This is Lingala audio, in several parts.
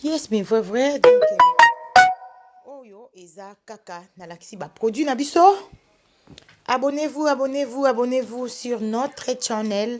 yes mais vrai vrai donc euh, oyo eza kaka nalakisi baproduit na biso abonnez-vous abonnez-vous abonnez-vous sur notre channel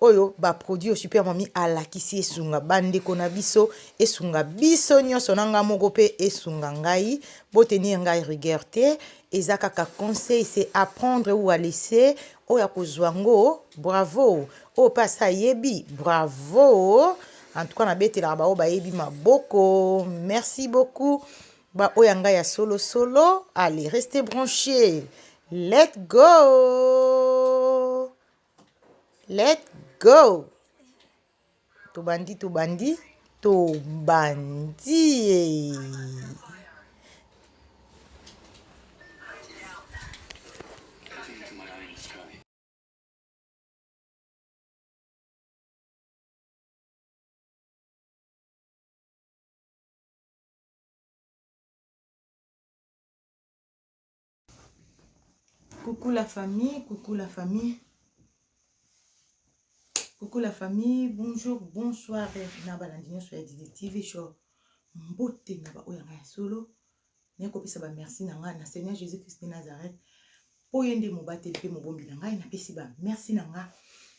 Oyo ba produit oyo super mami alakisi esunga ba ndeko na biso esunga biso nionso na nga moko pe esunga ngai bo tenir ngai rigueur te eza kaka conseil c'est à prendre ou à laisser oyo akozua ngo bravo oyo pe asi ayebi bravo en tout cas na betelaka ba oyo bayebi maboko merci beaucoup ba oyo ya ngai ya solo solo allez restez branche let go Let go! Tobandi, tobandi, tobandie! Coucou la famille, coucou la famille. Coucou la famille, bonjour, bonsoir na balandi nyonso ya Didi TV show. Mbote na baoyo ya ngai ya solo. Naye kopesa ba merci na ngai na Seigneur Jésus Christ de Nazareth. Mpo ye nde mobateli mpe mobombi na ngai napesi ba merci na ngai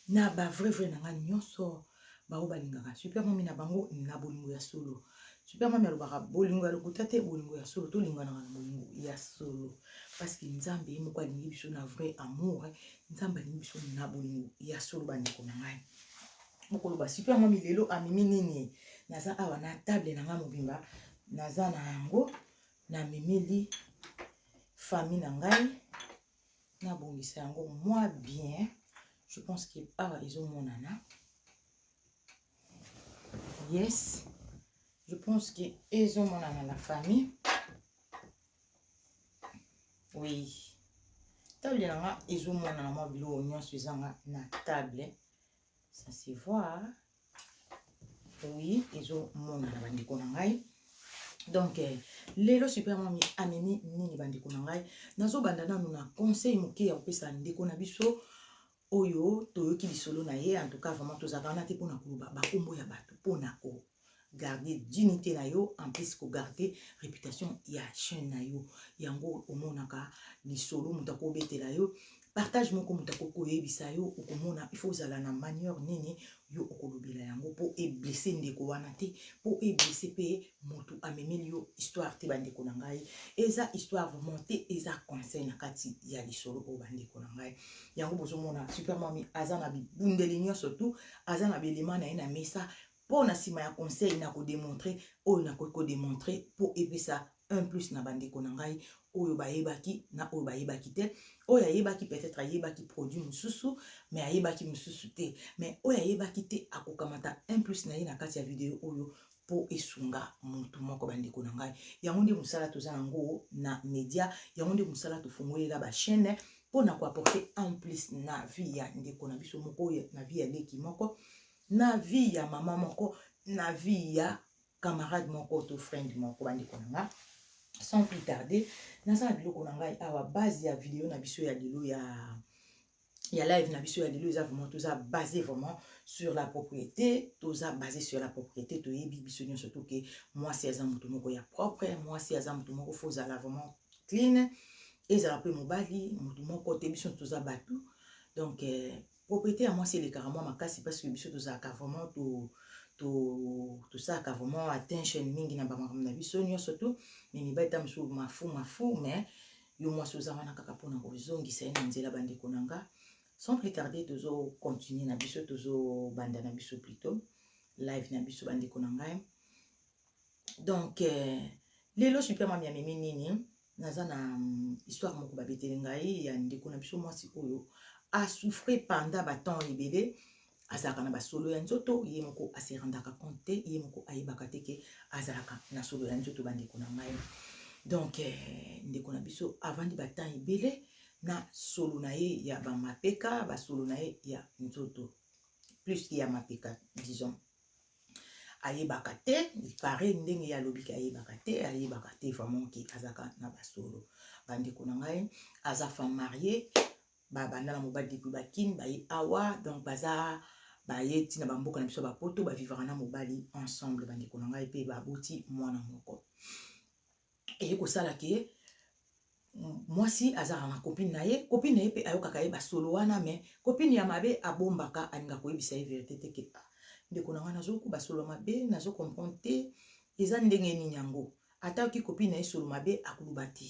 na ba vrai vrai na ngai nyonso. Bango balingaka Super Mommy na bango na bolingo ya solo. Super Mommy alobaka bolingo ya lokuta te, bolingo ya solo. Tolinganaka na bolingo ya solo. Parce que Nzambe ye moko alingi biso na vrai amour. Nzambe alingi biso na bolingo ya solo bandeko na ngai. Bokoloba Super Mommy lelo amimi nini? Naza awa na table na ngai mobimba. Naza na yango. Namemeli famille na ngai. na bongisa yango mwa bien je pense que awa ezomonana yes je pense que ezomonana na famille oui table na nga ezomonana mwa biloko nyonso ezanga na table ça se voit oui ezomonana bandeko na ngai donc eh, lelo super mami amemi nini bandeko na ngai nazobanda nanu na conseil moke ya kopesa ndeko na biso oyo toyoki lisolo na ye en tout cas vraiment tozalaka wana te mpo na koloba bakombo ya bato mpo na ko garder dignité na yo en plus ko garder réputation ya chaîne na yo yango omonaka lisolo moto akobetela yo Partage moko moto akoki koyebisa yo okomona il faut ozala na manieur nini yo okolobela yango po e blesse ndeko wana te po e blesse pe mutu amemeli yo histoire te bandeko na ngai eza histoire vraiment te eza conseil na kati ya lisolo oyo bandeko na ngai yango bozomona super mami aza na bibundeli nyonso tout aza na belema na ye na mesa Po na sima ya conseil nako demontrer oyo nakoki ko demontrer po epesa un plus na ba ndeko na ngai oyo bayebaki na oyo bayebaki te. Oyo ayebaki peut etre ayebaki produit mosusu mais ayebaki mosusu te. Mais oyo ayebaki te akokamata un plus na ye na kati ya video oyo po esunga mutu moko ba ndeko na ngai. Yango nde mosala toza na ngo na media, yango nde mosala tofongolela ba chaines po na ko apporter un plus na vie ya ndeko na biso moko, na vie ya leki moko na vie ya maman moko na vie ya camarade moko to friend moko bandeko na nga sans plus tarder naza na biloko na ngai awa base ya video na biso ya lelo ya ya live na biso ya lelo eza vraiment toza basé vraiment sur la propriété toza basé sur la propriété toyebi biso nyonso to ke mwasi aza moto moko ya propre mwasi aza moto moko fo ozala vraiment clean ezala mpe mobali moto moko te biso toza bato donc eh, Propriete ya mwasi elekaka mwa makasi parce que biso tozalaka vraiment to to tosalaka vraiment attention mingi na bamakambo na biso nyonso tu mais mibali ntango mosusu mafu mafu mais yo mwasi oza wana kaka mpo na kozongisa ye na nzela bandeko na nga sans plus tarder tozocontinue na biso tozobanda na biso plutôt live na biso bandeko na ngai donc euh, lelo super mami amemi nini naza na mm, histoire moko babeteli ngai ya ndeko na biso mwasi oyo asouffre pendant batemps ebele azalaka na basolo ya nzoto ye moko aserandaka compte te ye moko ayebaka te ke azalaka na solo ya nzoto bandeko na ngai donc eh, ndeko na biso avandi batemps ebele na solo na ye ya bamapeka basolo na ye ya nzoto plus ya mapeka disons ayebaka te pare ndenge ye alobiki ayebaka te ayebaka te vraiment ke azaka na basolo bandeko na ngai aza femme marie babanda na mobali depuis bakine baye awa donc baza baye ntina bamboka na biso ya bapoto bavivaka na mobali ensemble bandeko na ngai mpe baboti mwana moko Eye kosala ke mwasi azalaka na copine na ye, copine na ye pe ayokaka ye ba solo wana mais copine ya mabe abombaka alingaka koyebisa ye verite te ke ah ndeko na ngai nazoyoka ba solo ya mabe nazo comprendre te eza ndenge nini yango? Ata ayoki copine na ye solo mabe akoloba te.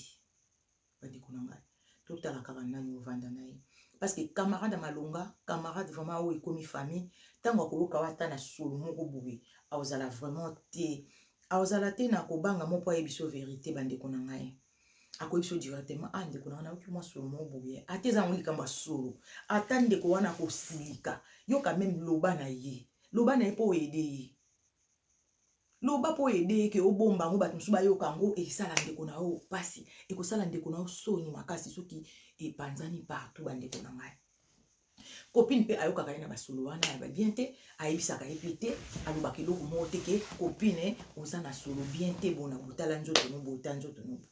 Bandeko na ngai, totala kaka nani ovanda na ye. Parce que camarade ya malonga, camarade vraiment oyo ekomi famille, tango akoyoka yo ata na solo moko boye, akozala vraiment te, akozala te na kobanga moko po ayebisa yo verite bandeko na ngai. Akoyebisa yo directement, ah ndeko na ngai nayoki mwa solo moko boye, ata eza yango likambo ya solo, ata ndeko wana akosilika, yo quand meme loba na ye, loba na ye po o aider ye. Loba po aide ye ke obomba yango batu mususu bayoka yango esala ndeko na yo pasi ekosala ndeko na yo soni makasi soki epanzani partout ba ndeko na ngai. Copine pe ayokaka ye na basolo wana ya ba bien te ayebisaka ye pe te alobaka eloko moko te ke copine oza na solo bien te bona botala nzoto no boye ta nzoto no boye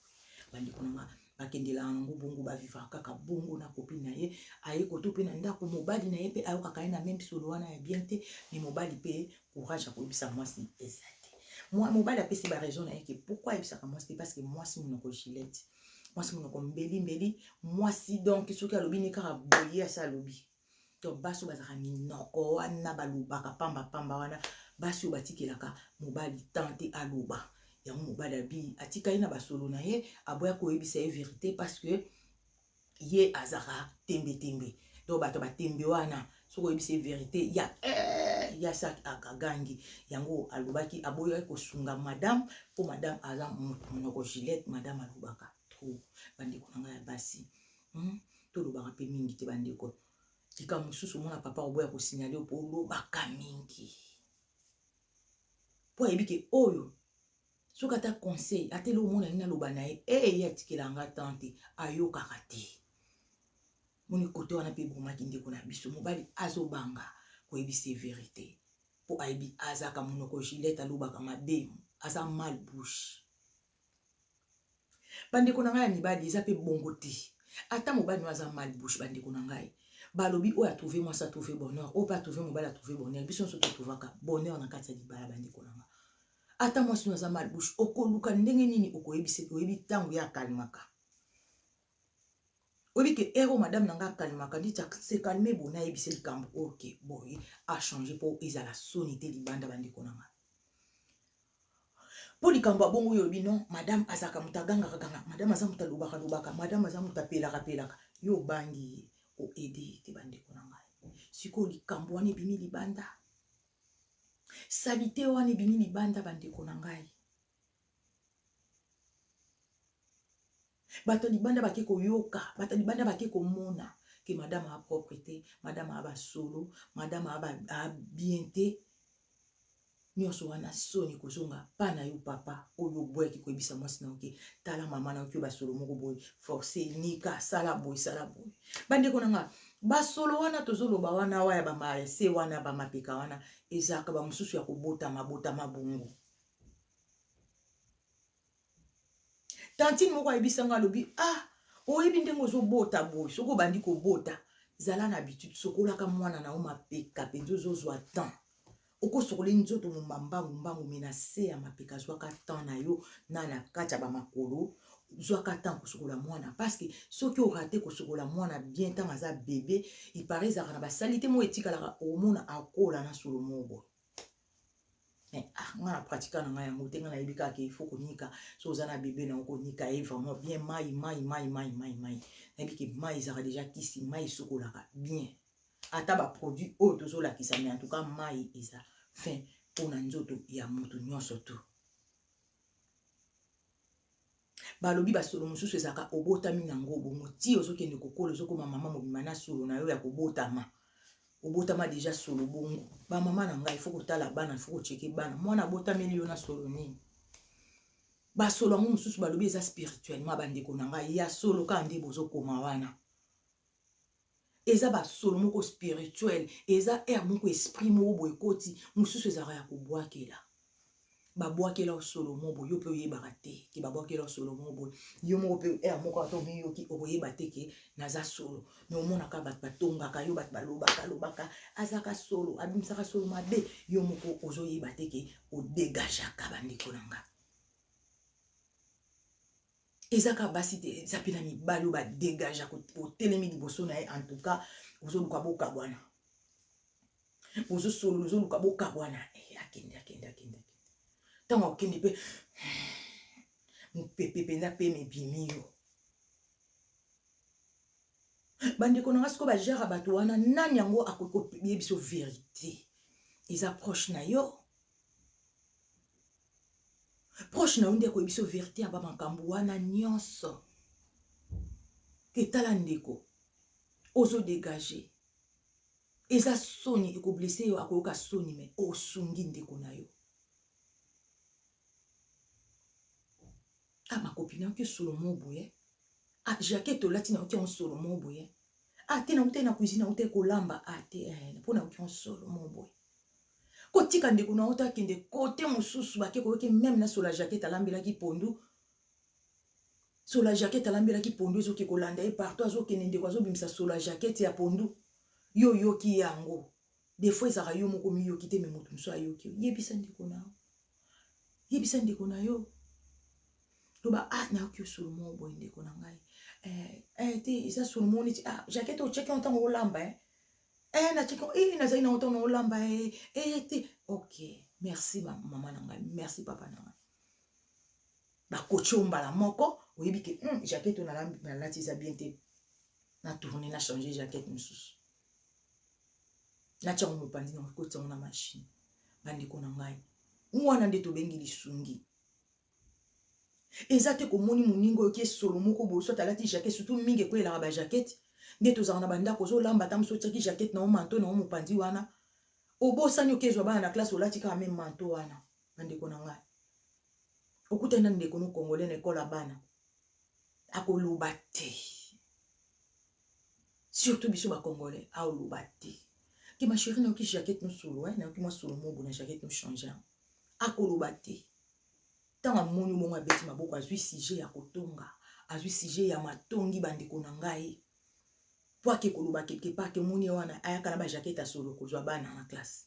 ba ndeko na ngai. Bakendelaka na ngo bongo ba vivaka kaka bongo na copine na ye aye koto pe na ndaku mobali na ye pe ayokaka ye na meme solo wana ya bien te mais mobali pe courage ya koyebisa muasi eza te mobali apesi ba raison na ye ke pourquoi ayebisaka muasi te parce que muasi munoko gilette muasi munoko mbeli mbeli muasi donc soki alobi nde kaka boye ye asi alobi Donc basi oyo bazalaka minoko wana balobaka pamba pamba wana basi oyo batikelaka mobali temps te aloba yango mobali abi atika ye na basolo na ye aboya koyebisa ye verite parce que ye azaka tembe tembe donc bato batembe wana soki oyebisi ye verite ya eh, ya saki akagangi yango alobaki aboyaki kosunga madame mpo madame aza monoko gilete madame alobaka trop bandeko na ngai ya basi Hum tolobaka mpe mingi te bandeko likambo mosusu omona papa obo ya kosignale mpo olobaka mingi mpo ayebi ke oyo soki ata conseil ata eloko omona ye naloba na ye ee ye atikela nga tan te ayokaka te moni kote wana mpe ebomaki ndeko na biso mobali azobanga koyebisa ye verite mpo ayebi azaka monoko gilete alobaka mabe aza mal bouche Ba ndeko na ngai ya mibali eza pe bongo te ata mobali nayo aza mal bouche ba ndeko na ngai balobi oyo a trouve mwasi a trouve bonheur oyo pe a trouve mobali a trouve bonheur biso nioso to trouvaka bonheur na kati ya libala ba ndeko na nga ata mwasi nayo aza mal bouche okoluka ndenge nini okoyebisa oyebi tangu ye a calmaka Oyebi ke heure oyo madame na nga a calmaka ndi ca se calmer boye na yebisa ye likambo oyo ke boye a changer po ezala soni te libanda ba ndeko na nga. Po likambo ya bongo yo olobi non madame azalaka moto a gangaka gangaka, madame aza moto a lobaka lobaka, madame aza moto a pelaka pelaka, yo obangi ye o aider ye te ba ndeko na ngai. Sikoyo likambo wana ebimi libanda, salite wana ebimi libanda ba ndeko na ngai. Bato ya libanda bake koyoka, bato ya libanda bake komona ke madame a propre te, madame a ba solo, madame a bien te. Nionso wana soni ekozonga pa na yo papa oyo oboyaki koyebisa mwasi na yo ke tala mama na yo ke ba solo moko boye force nika sala boye sala boye. Bandeko na nga ba solo wana tozoloba wana wa ya ba marese wana ba mapeka wana ezalaka ba mosusu ya kobotama botama bongo. tantine moko ayebisa nga alobi ah oyebi ndenge ozobota boye soki obandi kobota zala na habitude sokolaka mwana na yo mapeka mpenza ozozwa temps okosokoli nzoto momba mbangu mbangu me na se ya mapeka zwaka temps na yo na na kati ya bamakolo zwaka temps kosokola mwana parceke soki orate kosokola mwana bien ntango aza bebe ipare ezalaka na basalite moko etikalaka omona akola na solo moko boye mais ah nga na pratika na nga yango te nga nayebi kaka il faut konika so oza na bebe na okonika ye vraiment bien mai mai mai mai mai mai nayebi ke mai ezalaka deja kisi mai esukolaka bien ata baproduit oyo tozolakisa mai en tout cas mai eza fin mpo na nzoto ya moto nyonso tout Balobi ba solo mosusu ezalaka obotami na ngo bongo tii ozo kende ko kola ozo koma maman mobimba na solo na yo ya ko botama obotama dejà solo bongo ba maman na ngai il faut ko tala bana il faut ko checker bana mwana abotameli yo na solo nini ba solo yango mosusu balobi eza spirituellement ba ndeko na ngai ya solo kaka nde bozo koma wana Eza ba solo moko spirituel eza heure moko esprit moko boye ekoti mususu ezalaka ya kobuakela ba buakela yo solo moko boye yo pe oyebaka te ke ba buakela yo solo moko boye yo moko pe heure moko ata omiyoki okoyeba te ke naza solo mais omonaka batu batongaka yo batu balobaka lobaka azalaka solo abimisaka solo mabe yo moko ozoyeba te ke odegageaka bandeko na nga Eza kaka basi te eza pe na mibali oyo ba degagea otelemi liboso na ye en tout cas ozoluka bokabwana bozosolola ozoluka bokabwana eh, akende akende akende ntango akokende mpe mopepe mpenza mpe mebimi yo bandeko na nga sikoyo bajara bato wana nani yango akoki koyebisa verite eza proche na yo Proche na yo nde akoyebisa yo verite ya ba makambu wana nionso. Que tala ndeko ozo degager eza soni eko blesser yo akoyoka soni mais osungi ndeko na yo. Ah ma copine oke solo mo boye. Ah jaquette olati na oke solo mo boye. Ah te na utaki na cuisine na utaki kolamba ah te eh, pona oke solo mo boye. Ko tika ndeko na yo te akende cote mususu ba ke ko yoke meme na sola jaquette alambelaki pondu sola jaquette alambelaki pondu ezo ke ko landa ye partout azo kende ndeko azo bimisa sola jaquette ya pondu yo yoki yango des fois ezaka yo moko mi yoki te me mutu mususu ayoki yo yebisa ndeko na yo yebisa ndeko na yo loba ah na yoki yo solo mo boye ndeko na ngai eh eh te eza solo mo neti ah jaquette o cheki ntango olamba eh eh na tiki eh nazali na otono olamba eh eh te ok merci ma maman na ngai merci papa na ngai bakoci yo mbala moko oyebi ke mm, jaquette oyo nalati eza bien te na tourne na change jaquette mosusu natyango mopanzi na kotiango na mashine bandeko na ngai wana nde tobengi lisungi Eza te komoni moninga oyo ke solo moko boye soit alati jaquette surtout mingi ekweyelaka ba jaquette nde tozalaka na ba ndako ozo lamba ata mosi otiaki jaquette na yo manteau na yo mopanzi wana obosani oke zwa bana na classe olati kaka meme manteau wana ba ndeko na ngai okutani na ndeko no congolais na ekole ya bana akoloba te surtout biso ba congolais aoloba te ke ma chérie nayoki jaquette no solo eh nayoki mwa solo mobo na jaquette no changer akoloba te ntango amoni bongo abeti maboko azwi sujet ya kotonga azwi sujet ya matongi bandeko na ngai mpo ake koloba quelque part te moni ye wana ayaka na bajakete ya solo kozwa bana na classe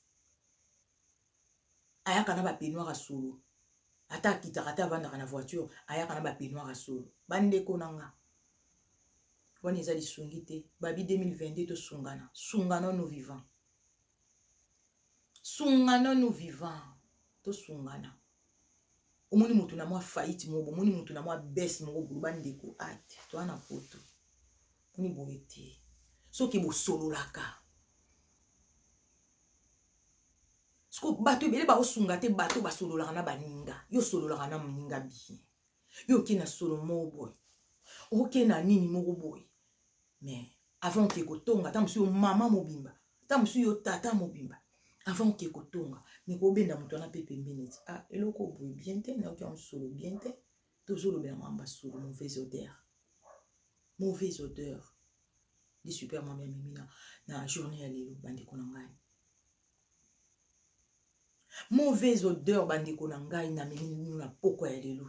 ayaka na bapeignoire ya solo ata akitaka ata avandaka na voiture ayaka na bapeignoire ya solo bandeko na nga wana eza lisungi te babi 2022 tosungana sungana no vivant Sunga nanu vivant tosungana omoni mutu na mwa faillite moko bomoni mutu na mwa baisse moko boye ba ndeko at toa na poto moni boye te soki bosololaka siko bato ebele baosunga te bato basololaka na baninga yo osololaka na moninga bien yo oke na solo moko boye oke na nini moko boye Mais avant oke kotonga ata mosusu yo mama mobimba ata mosusu yo tata mobimba avant oke kotonga me kobenda moto wana mpe pembeni ete ah eloko boye bien te nayoki yango solo bien te tozolobela mamba solo mauvaise odeur mauvaise odeur nde super mama amemi na, na journée ya lelo bandeko na ngai mauvaise odeur bandeko na ngai namemi nino na pokwa ya lelo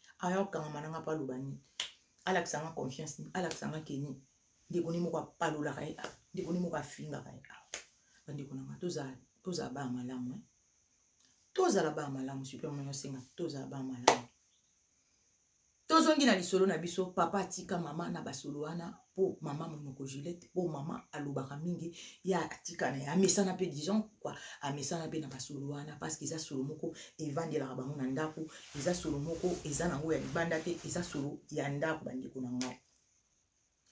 aya kokangama na nga mpo aloba nini alakisa nga confiance nini alakisa nga ke nini ndeko ne moko apalolaka ye awa ndeko ne moko afingaka ye awa bandeko na nga tozala baa malamu eh? tozala baa malamu supe mwana osenga tozala baa malamu tozongi na lisolo na biso papa atika mama na basolo wana po maman munoko Juliette po maman alobaka mingi ye atika na ye amesana pe disons quoi amesana pe na ba solo wana parce que eza solo moko evandelaka bango na ndaku eza solo moko eza nango ya libanda te eza solo ya ndaku ba ndeko na ngai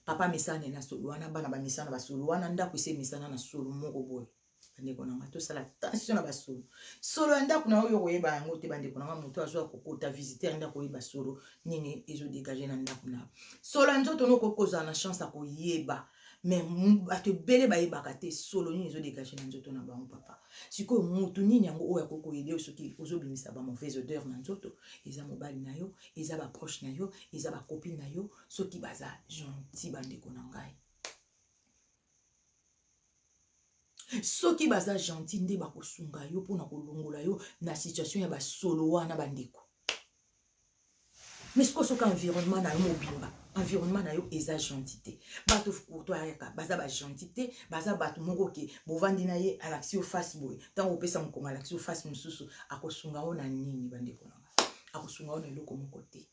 papa amesana na ye na solo wana bana bamesana ba solo wana ndaku esi emesana na solo moko boye bandeko na ngai tosala tension na basolo solo ya ndako na yo yo koyeba yango te bandeko na ngai moto azwa kokota visiteur nde akoyeba solo nini ezodegage na ndako na yo solo ya nzoto no okoki kozala na chance ya koyeba me bato ebele bayebaka te solo nini ezodegage na nzoto na bango papa sikoyo motu nini yango oyo akoki koyede yo soki ozobimisa bamauvaise odeur na nzoto eza mobali na yo eza baproche na yo eza bakopine na yo soki baza gentil bandeko na ngai soki baza gentil nde bakosunga yo mpona kolongola yo na situation ya basolo wana bandeko mais sikoyo soki environnement na yo mobimba environnement na yo eza gentil te bato courto ayaka baza bagentil te baza bato moko ke bovandi na ye alakisi yo face boye ntango opesa mokongo alakisi yo face mosusu akosunga yo na nini bandeko na nga akosunga yo na eloko moko te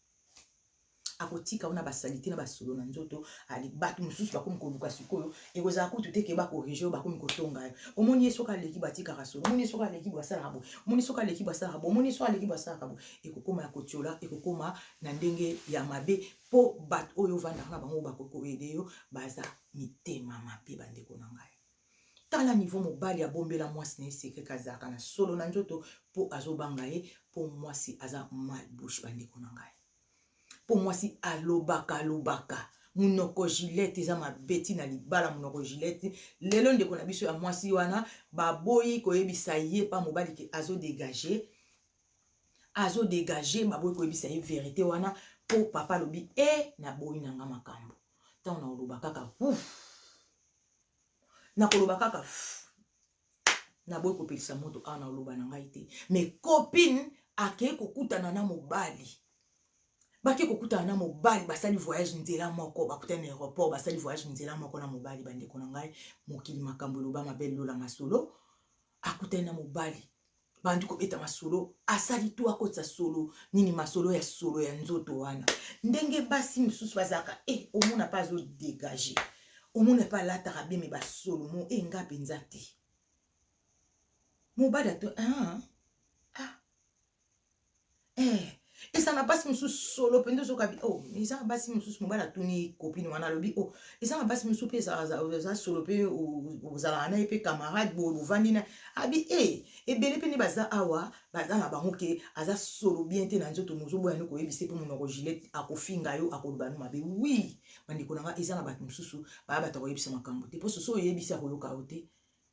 akotika wana ba salite na ba solo na nzoto ali batu mususu bakomi koluka sikoyo ekozala kutu te keba corrige yo bakomi kotonga yo omoni ye soki aleki batikaka solo omoni ye soki aleki bo asalaka bo omoni soki aleki bo asalaka bo omoni ye soki aleki bo asalaka bo ekokoma ya kotiola ekokoma na ndenge ya mabe po bato oyo ovandaka na bango bakoki koyede yo baza mitema mabe bandeko na ngai tala niveau mobali abombela mwasi na ye sekre kazalaka na solo na nzoto po azobanga ye po mwasi aza mal bouche bandeko na ngai Po mwasi alobaka alobaka munoko gillette eza mabe ti na libala munoko gillette lelo ndeko na biso ya mwasi wana baboyi koyebisa ye pa mobali ke azo degage azo degage baboyi koyebisa ye verite wana po papa alobi eh na boyi na nga makambu tango na koloba kaka ouf na koloba kaka ouf naboyi kopelisa moto awa na oloba na ngai te me copine akei kokutana na mobali bake kokutana na mobali basali voyage nzela moko bakutani na aéroport basali voyage nzela moko na mobali bandeko na ngai mokili makambo eloba mabe lola masolo akutani na mobali bandi kobeta masolo asali to akotisa solo nini masolo ya solo ya nzoto wana ndenge basi mosusu bazalaka e eh, omona mpe azodegage omona mpe alataka bie me basolo mo e eh, nga mpenza te mobali ato ah, ah. eh eza na basi mosusu solo mpenza ozoka bi oh eza na basi mosusu mobali atuni kopine wana alobi oh eza na basi mosusu mpe eza solo mpe ozalaka na ye mpe camarade boye bovandi na abi e eh, ebele mpe nde baza awa baza na bango ke aza solo bien te na nzoto mozoboya ni koyebisa mpe monoko gilet akofinga yo akoloba no mabe wi bandeko na nga eza na bato mosusu baya bato akoyebisa makambo te mpo soso oyebisi akoyoka yo te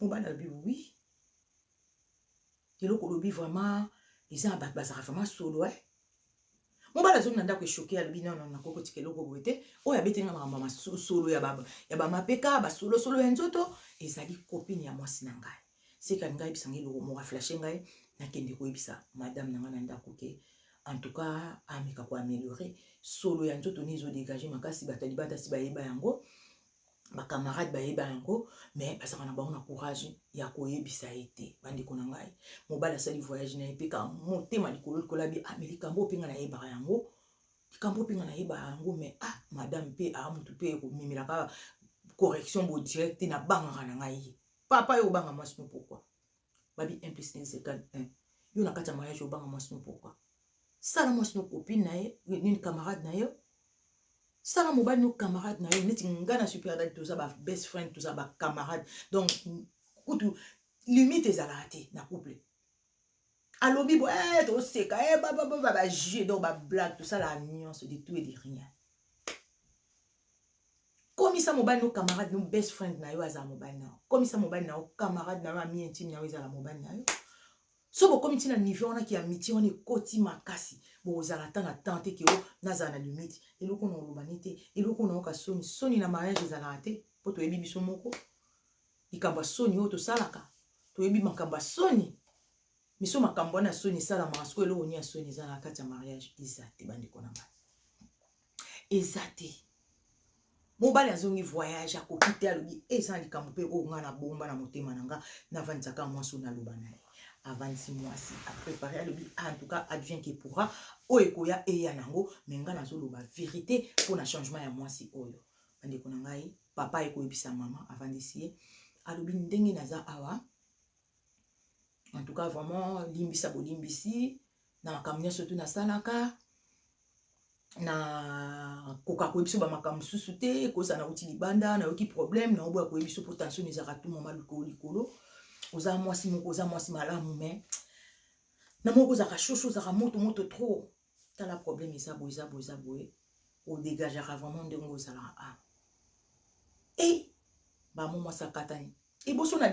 Mobali alobi oui eloko olobi vraiment eza ya bato bazalaka vraiment solo e eh? mobali azongi na ndako eshoke alobi nono nakoki kotika eloko boye te oyo abeteli nga makambo ya masolo ya bamapeka basolosolo ya nzoto ezali kopine ya mwasi na ngai seka ngai yebisa ngai eloko moko aflashe ngai nakende koyebisa madame na ngai na ndako ke en tout cas ameka koameliore solo ya nzoto ne ezodegage makasi bato ya libanda si bayeba yango ba camarade bayeba yango mais bazalaka na bango na courage ya koyebisa ye te bandeko na ngai mobali asali voyage na ye mpe ka motema likolo likolo abi ah mais likambo oyo mpe ngai nayebaka yango likambo mpe ngai nayebaka yango mais ah madame mpe ah motu mpe ekomemelaka correction bo direct te nabangaka na ngai ye papa yo obanga mwasi no pourkoi Babi un plus un egal un yo na kati ya mariage obanga mwasi no pourquoi? Sala mwasi no copine na ye nini camarade na yo sala mobali no camarade na yo neti nga na super dadi toza ba best friend toza ba camarade donc kutu limite ezalaka te na couple alobi bo eh, toseka eh, babababa bajue donc bablague tosalaka nyonso de tout et de rien komisa mobali no camarade no best friend na yo azala mobali na yo komisa mobali na yo camarade na yo ami intime na yo ezala mobali na yo so bokomi ntina niveau wana ke amitie wana ekoti makasi bokozala ata na temps te ke o oh, nazala na limite eloko na olobani te eloko na yoka soni soni na mariage ezalaka te mpo toyebi biso moko likambo ya soni oyo tosalaka toyebi makambo ya soni miso makambo wana ya soni esalamaka sikoyo eloko nini ya soni ezalaka kati ya mariage eza te bandeko na ngai eza te mobali azongi voyage akoki te alobi eza na likambo mpe oyo ngai nabomba na motema na ngai navandisaka mwasi oyo naloba na ye avandisi mwasi aprepare alobi ah, en tout cas advient que pourra oyo ekoya eya nango me ngai nazoloba verité mpo na changement ya mwasi oyo bandeko na ngai papa aye koyebisa mama avandisi ye alobi ndenge naza awa en tout cas vraiment limbisa bolimbisi na makambo nyonso tu nasalaka na koka koyebi biso bamakambo mosusu te koza nauti libanda nayoki problème naoboya koyebi biso mpo tension ezalaka tu mama likolo likolo oza mwasi moko oza mwasi malamu mais na moko ozalaka shosho ozalaka moto moto trop tala problème eza boye eza boye eza boye odegajaka vraiment ndenge ozalaka a e bamo mwasi akatani liboso na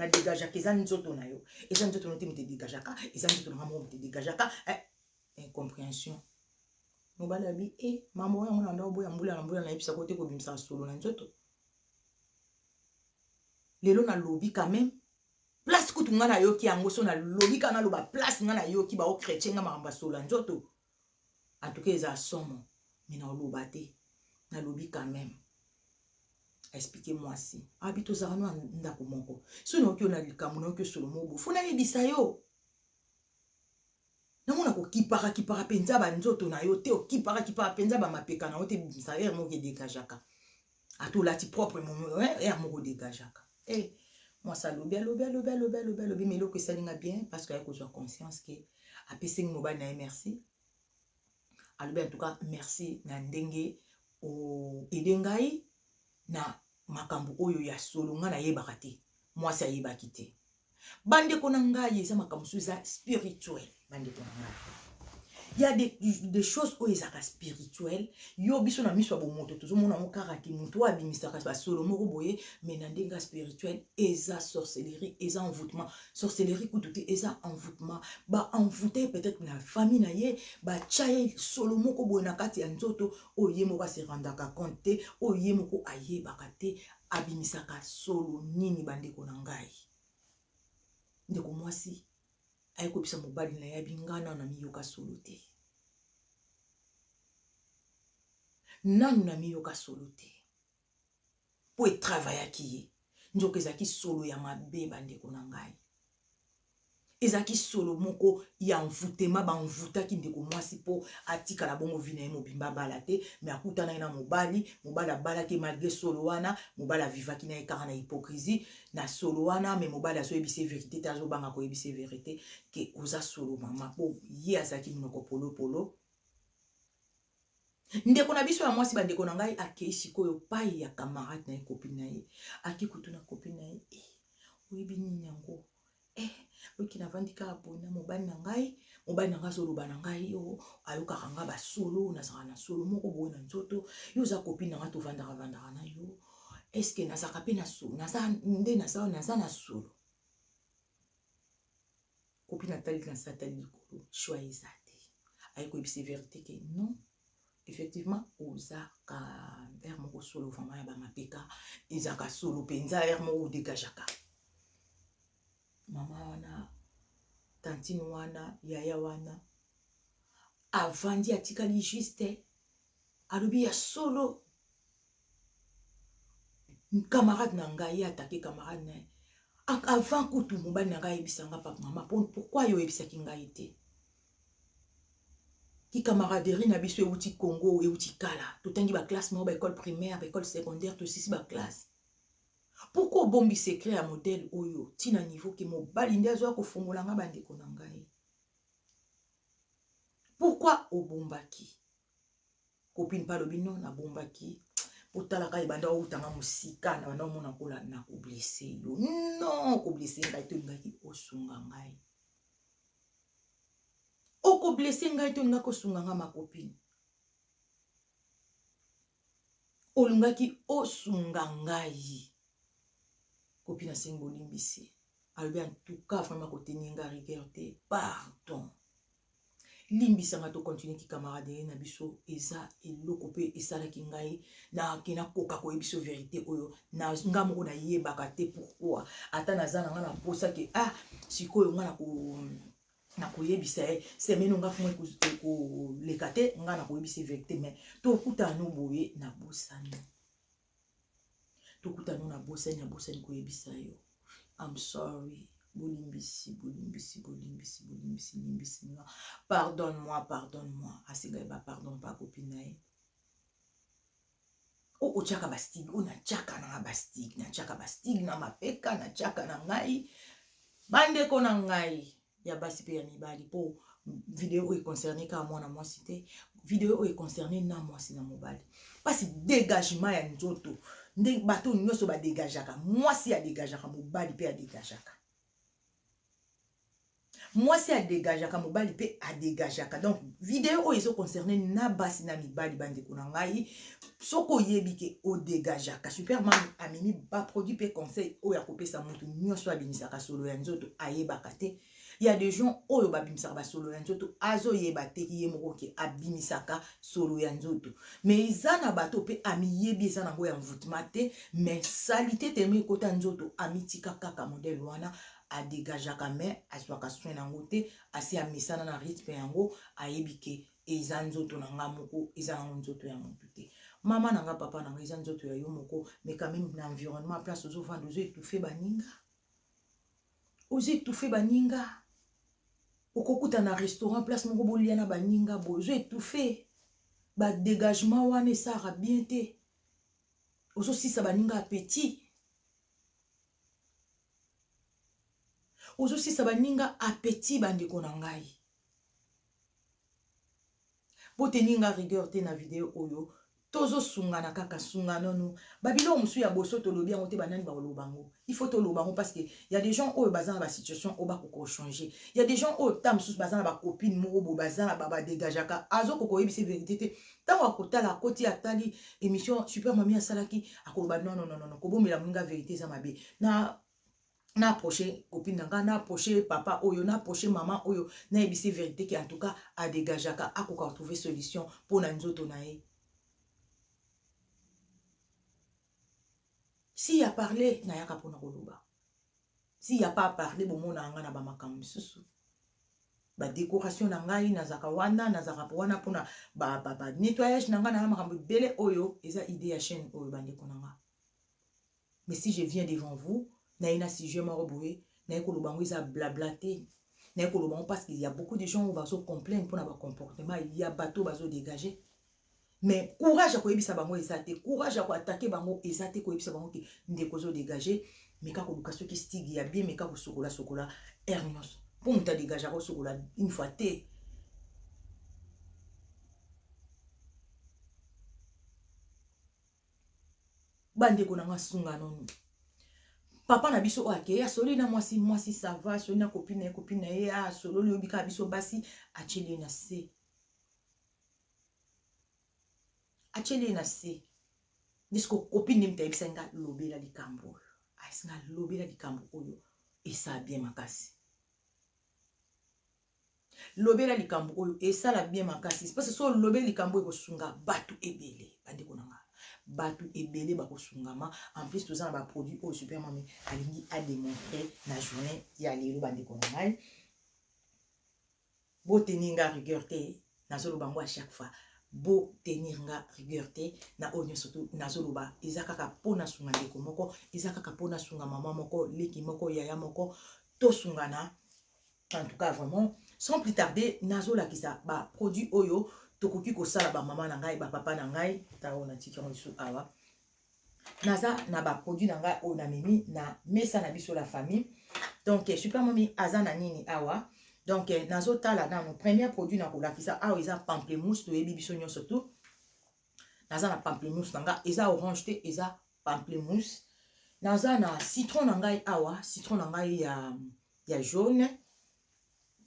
degajaka eza nzoto na yo eza nzoto na yo te moto edegajaka eza nzoto na nga moko moto edegajaka eh, incomprehension mobali abi e eh, mama oyo yango na ndako boya mbula na mbula nayebisa kote kobimisa solo na nzoto lelo nalobi quand même place kutu nga nayoki yango so nalobi kaka naloba place nga nayoki bao chrétien nga makambo ya solo ya nzoto en tout cas eza somo mais naoloba te nalobi quand même expliquer mwasi abi tozalaka no na ndako moko soki naoki yo na likambo naoki osolo mobo fo nayebisa yo namona kokipaka kipaka mpenza banzoto na yo te okipaka kipaka mpenza bamapeka na yo te bisaere moko edekajaka Ata olati propre mono eh, eh, moko degageaka eh, mwasi alobi alobi alobi alobi alobi alobi ma eloko esali nga bien parce que aye kozwa conscience ke apesi ngi mobali na ye merci alobi en tout cas merci na ndenge oede ngai na makambo oyo ya solo ngai nayebaka te mwasi ayebaki te Bandeko na ngai eza makambo mosusu eza spirituel bandeko na ngai ya de, de choses oyo ezalaka spirituel yo biso na miso ya bomoto tozomona yango kaka ke moto oyo abimisaka basolo moko boye mai na ndenge ya spirituel eza sorcellerie eza envoutement sorcellerie kutu te eza envoutement baenvoute ye peut-être na famille na ye batya ye solo moko boye na kati ya nzoto oyo ye moko aserandaka compte te oyo ye moko ayebaka te Abimisaka solo nini bandeko na ngai? Ndeko mwasi aye koyebisa mobali na ye abi ngai nano namiyoka solo te, nano namiyoka solo te mpo etravayaki ye nzoka ezalaki solo ya mabe bandeko na ngai. Ezalaki solo moko ya envoutement, ba envoutaki ndeko muasi po atikala bongo vie na ye mobimba abala te, mais akutanaki na mobali, mobali abalaki ye malgre solo wana, mobali a vivaki na ye kaka na hypocrisie na solo wana, mais mobali azo yebisa ye verite te, azo banga ko yebisa ye verite que oza solo mama po ye azalaki munoko polo polo. Ndeko na biso ya mwasi, bandeko na ngai, akei sikoyo pai ya camarade na ye, copine na ye. Ake kotuna copine na ye, eh, oyebi nini yango? Eh, oyoki navandi kaka boye na mobali na ngai, mobali na ngai azoloba na ngai, yo oh, ayokaka ngai basolo, nazalaka na solo moko boye na nzoto, yo oza copine na ngai, tovandaka vandaka na yo, eske nazalaka mpe na solo, naza nde naza, naza na solo. copine atali na se atali likolo choix eza te aye koyebisa verite ke non effectivement oza ka heure moko solo vraiment ya bamapeka ezaka solo mpenza heure moko odegajaka mama wana tantine wana yaya wana avandi atikali juste alobi ya solo camarade na ngai ye atake camarade na ye avant kutu mobali na ngai ayebisa nga papa mama pourkui yo oyebisaki ngai te kikamaraderie na biso euti congo euti kala totangi baklasse moko baekole primaire baekole secondaire tosisi baklasse pourkui obombi secret ya modele oyo ntina niveau ke mobali nde azoya kofongola nga bandeko na ngai pourkui obombaki Copine pa alobi non na bombaki otala kaka ebanda outa nga mosika na banda omona kola na ko blesse yo non ko blesse ngai te olingaki osunga ngai oko blesse ngai te olingaki osunga ngai ma copine olingaki osunga ngai copine asengi bolimbisi alobi antuka vraimen koteninga rigueur te pardon Limbisa nga to continuer ki camaraderie na biso eza eloko pe esalaki ngai na ke na koka ko yebiso verite oyo na nga moko na yebaka te pourquoi ata naza na nga na posa ke ah sikoyo nga na ko na koyebisa ye semaine onga fuma ekoleka te nga na koyebisa ye verite mais tokutana no boye na bosani tokuta no na bosani abosani koyebisa yo I'm sorry bolimbisi bolimbisi bolimbisi bolimbisi limbisi nga pardonne moi pardonne moi asengai ba pardon pa kopi na ye oyo otyaka bastige oyo natyaka nanga bastige natyaka bastige na mapeka natyaka na ngai bandeko na ngai ya basi pe ya mibali po video oyo e concerne kaka mwana mwasi te video oyo e concerne na mwasi na mobali pasi degagement ya nzoto nde bato nyonso ba degajaka mwasi a degajaka mobali pe a degajaka mwasi a degajaka mobali pe a degajaka donc video oyo ezo concerne na basi na mibali bandeko na ngai soki oyebi ke odegageaka superman amemi baproduit mpe conseil oyo akopesa moto nyonso abimisaka solo ya nzoto ayebaka te ya de gens oyo babimisaka basolo ya nzoto azoyeba te ye moko ke abimisaka solo ya nzoto me eza na bato mpe amiyebi eza nango ya mvutema te me salite telema ekota nzoto amitika kaka modele wana adegageaka me azwaka soin yango te asi amesana na rythme yango ayebi ke eza nzoto na nga moko eza nango nzoto ya mutu te maman na nga papa na nga eza nzoto ya yo moko mais quand même na environnement place ozo vanda ozo étouffer baninga ozo étouffer baninga okokuta na restaurant place moko bolia na baninga boye ozo étouffer ba dégagement wana esara bien te ozo sisa baninga appétit ozo sisa baninga appétit bandeko na ngai Bo tenir nga rigueur te na video oyo, to zo sungana kaka, sunga no no. Ba biloko mosusu ya boso to lobi yango te, ba nani bako loba yango? Il faut to loba yango parce que ya des gens oyo baza na ba situation oyo ba koka ko changer. Ya des gens oyo temps mosusu baza na ba copine moko boye baza na ba degajaka, azo koka ko yebisa ye verite te, tango ako tala akoti atali emission super mamie asalaki ako loba non non non non ko bombela nga verite eza mabe. Na na approcher copine na nga, na approcher papa oyo, na approcher maman oyo, na yebisa ye verite que en tout cas a degageaka, akoka ko trouver solution po na nzoto na ye. S'il y a parler, nayaka po na koloba. S'il y a pas parler, bomonaka nga na ba makambo misusu. Ba decoration na ngai, nazaka wana, nazaka wana po na ba, ba, ba nettoyage na nga, na makambo ebele oyo, eza idee ya chaîne oyo bandeko na nga. Mais si je viens devant vous naye na sujet moko boye naye koloba yango eza blabla te naye koloba yango parce qu'il ya beaucoup de gens oyo bazo complaine pona ba comportement ya bato oyo bazo degage mais courage ya koyebisa bango eza te courage ya koatake bango eza te koyebisa bango ke ndeko ozo degage meka koluka soki stigi ya bien meka kosokola sokola heure nyonso mpo moto adegage akosokola une fois te bandeko na nga sunganonu papa na biso oyo akei asololi na mwasi mwasi sava asololi na kopine ye kopine na ye asololi obi kaka biso basi atyeli ye na se atyeli ye na se disko kopine moto ayebisaki nga lobela likambo oyo ayebisi nga lobela likambo oyo esa bien makasi Lobela likambo oyo esala bien makasi parce so olobeli likambo oyo ekosunga batu ebele bandeko na nga batu ebele bakosungama en plus toza na ba produit oyo super mami alingi a demontre na journée ya lelo bandeko na ngai botenir nga rigueur te nazoloba yango à chaque fois botenir nga rigueur te na oyo nyonso tu nazoloba eza kaka mpo nasunga ndeko moko eza kaka mpo nasunga mama moko leki moko yaya moko tosungana En tout cas vraiment sans plus tarder nazo lakisa ba produits oyo tokoki kosala ba maman na ngai ba papa na ngai tao na tiki yango lisusu awa naza na ba produits na ngai oyo namemi na mesa na biso la famille donc eh, super mami aza na nini awa donc eh, nazo tala nanu premier produit na kolakisa awa eza pamplemousse toyebi biso nyonso tout naza na pamplemousse na ngai eza orange te eza pamplemousse naza na citron na ngai awa citron na ngai ya, ya jaune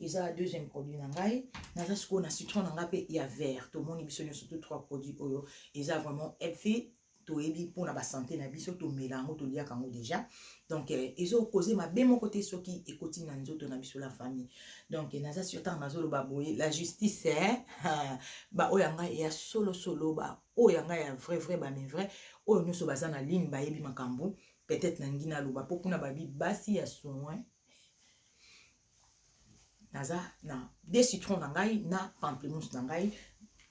eza deuxième produit na ngai naza sikoyo na citron na ngai mpe ya vert tomoni biso nyonso to trois produit oyo eza vraiment healthy toyebi mpona basante na biso tomela yango toliaka yango déjà donc eh, ezokoze mabe moko te soki ekoti na nzoto na biso la famille donc eh, naza sur ntango nazoloba boye la justice eh, baoyo ya ngai ya solosolo ba Oyo ya nga ya vrai vrai ba me vrai oyo nioso baza na ligne bayebi makambu peut etre na lingi na loba po kuna ba bi basi ya soin naza na de citron na ngai na pamplemousse na ngai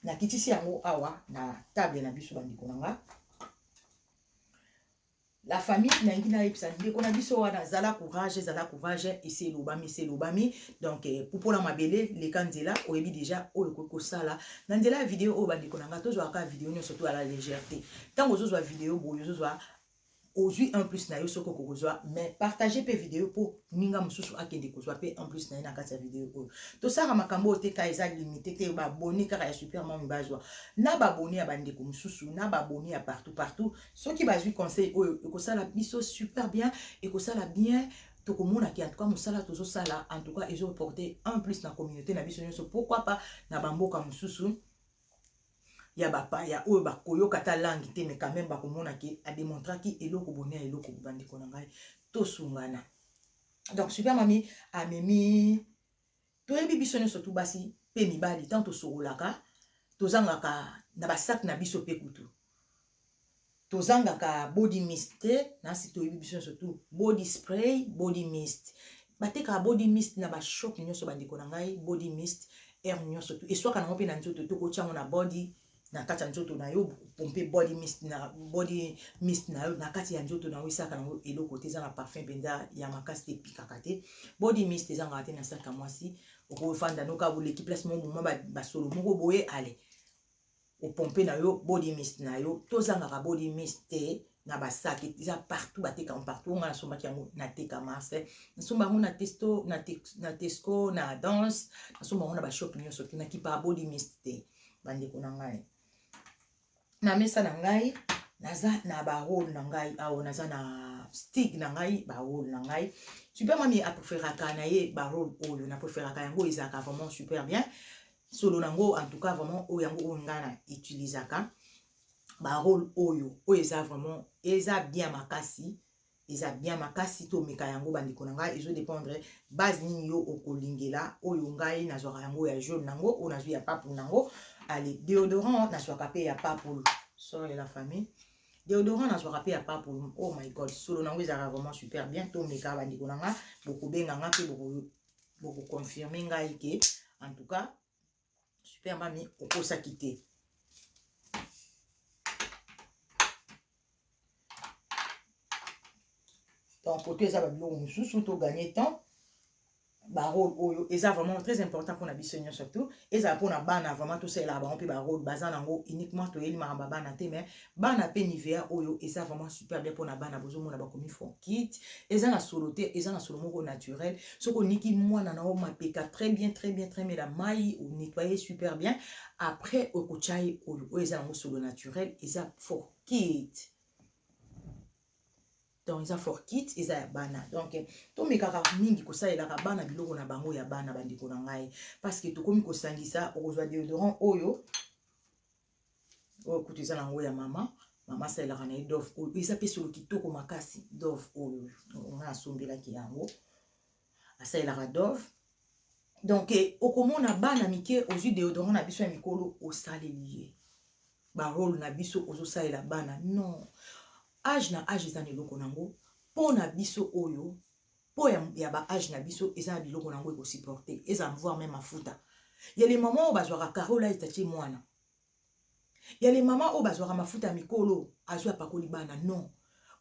na kitisi yango awa na table na biso ba ndeko na nga La famille na lingi na yebisa ndeko na biso wana zala courage zala courage esi elobami esi elobami donc eh, pupola mabele leka nzela oyebi deja oyo okoki kosala na nzela ya video oyo bandeko na ngai tozwaka kaka video nyonso to ya la légèreté ntango ozozwa video boye ozozwa ozwi un plus na yo soki okoki kozwa mais partage mpe video mpo ninga mosusu akende kozwa mpe un plus na ye na kati ya video oyo tosalaka makambo oyo te ka eza limite te baboni kaka ya super mami bazwa na baboni ya bandeko mosusu na baboni ya partout partout soki bazwi conseil oyo ekosala biso super bien ekosala bien tokomona ke antuka mosala tozosala antuka ezoporte un plus na communauté na biso nyonso pourquoi pas na bamboka mosusu ya bapaya oyo bakoyoka ata langue te mais quand même bakomona ke ademontraki eloko boni ya eloko bandeko na ngai tosungana donc super mami amemi Toyebi biso nionso tout basi pe mibali tango tosokolaka tozangaka na ba sac na biso pe kutu tozangaka body mist te nasi toyebi biso nionso tout body spray body mist batekaka body mist na ba shop nionso bandeko na ngai body mist heure nionso tout eswaka nango pe na nzoto tokotia yango na body na kati ya nzoto na yo pompe body mist na body mist na yo na kati ya nzoto na yo esaka na yo eloko te eza na parfum mpenza ya makasi te epikaka te body mist ezangaka te na saka mwasi okofanda noka boleki place moko moma basolo moko boye ale opompe na yo body mist na yo tozangaka body mist te na basaki eza partout batekaka partout ngai nasombaki yango nateka marse nasomba yango na testo na tesco na danse nasomba yango na bashop nyonso te nakipaka body mist te bandeko na ngai na mesa na ngai naza na barole na ngai awa naza na stig na ngai barole na ngai super mami apreferaka na ye barole oyo na preferaka yango ezalaka vraiment super bien solo na yango en tout cas vraiment oyo yango oyo ngai na utilisaka barole oyo oyo eza vraiment eza bien makasi Eza bien makasi to meka yango ba ndeko na nga ezo dependre base nini yo okolingela oyo ngai na zwaka yango ya jaune nango oyo nazwi ya papou nango ale deodorant na zwaka pe ya papou sorry la famille deodorant na zwaka pe ya papou oh my god solo nango ezaka vraiment super bien to meka ba ndeko na nga bokobenga nga pe boko boko confirmer ngai ke en tout cas Super mami, okosaki te. Donc, côté ça va biloko mosusu to gagner temps. barole oyo eza vraiment très important mpona biso nyonso surtout ezala mpona bana vraiment tosalela bango mpe barole baza nango uniquement toyeli makambo ya bana te mais Bana pe nivea oyo eza vraiment super bien pona bana bozo mona ba komi fonkit eza na solo te eza na solo moko naturel soki oniki muana na yo mapeka tres bien tres bien tres mela mayi o nettoyer ye super bien apres oko tia ye oyo oyo eza nango solo naturel eza fonkit donc eza fonkit eza ya bana donc to mekaka mingi ko salelaka bana biloko na bango ya bana ba ndeko na ngai parce que tokomi ko sangisa okozwa deodorant oyo oyo kutu eza na yango ya mama mama asalelaka na ye dove oyo eza mpe solo kitoko makasi dove oyo nga asombelaki yango asalelaka dove donc eh, okomona bana mike ozwi deodorant na biso ya mikolo osaleli ye barole na biso ozosalela bana non age na age eza na eloko na yango mpo na biso oyo po ya ya ba age na biso eza na biloko na yango eko supporte ezala mvoir meme mafuta ya les mamans oyo bazwaka carreau light atie mwana ya les mamans oyo bazwaka mafuta ya mikolo azwi apakoli bana non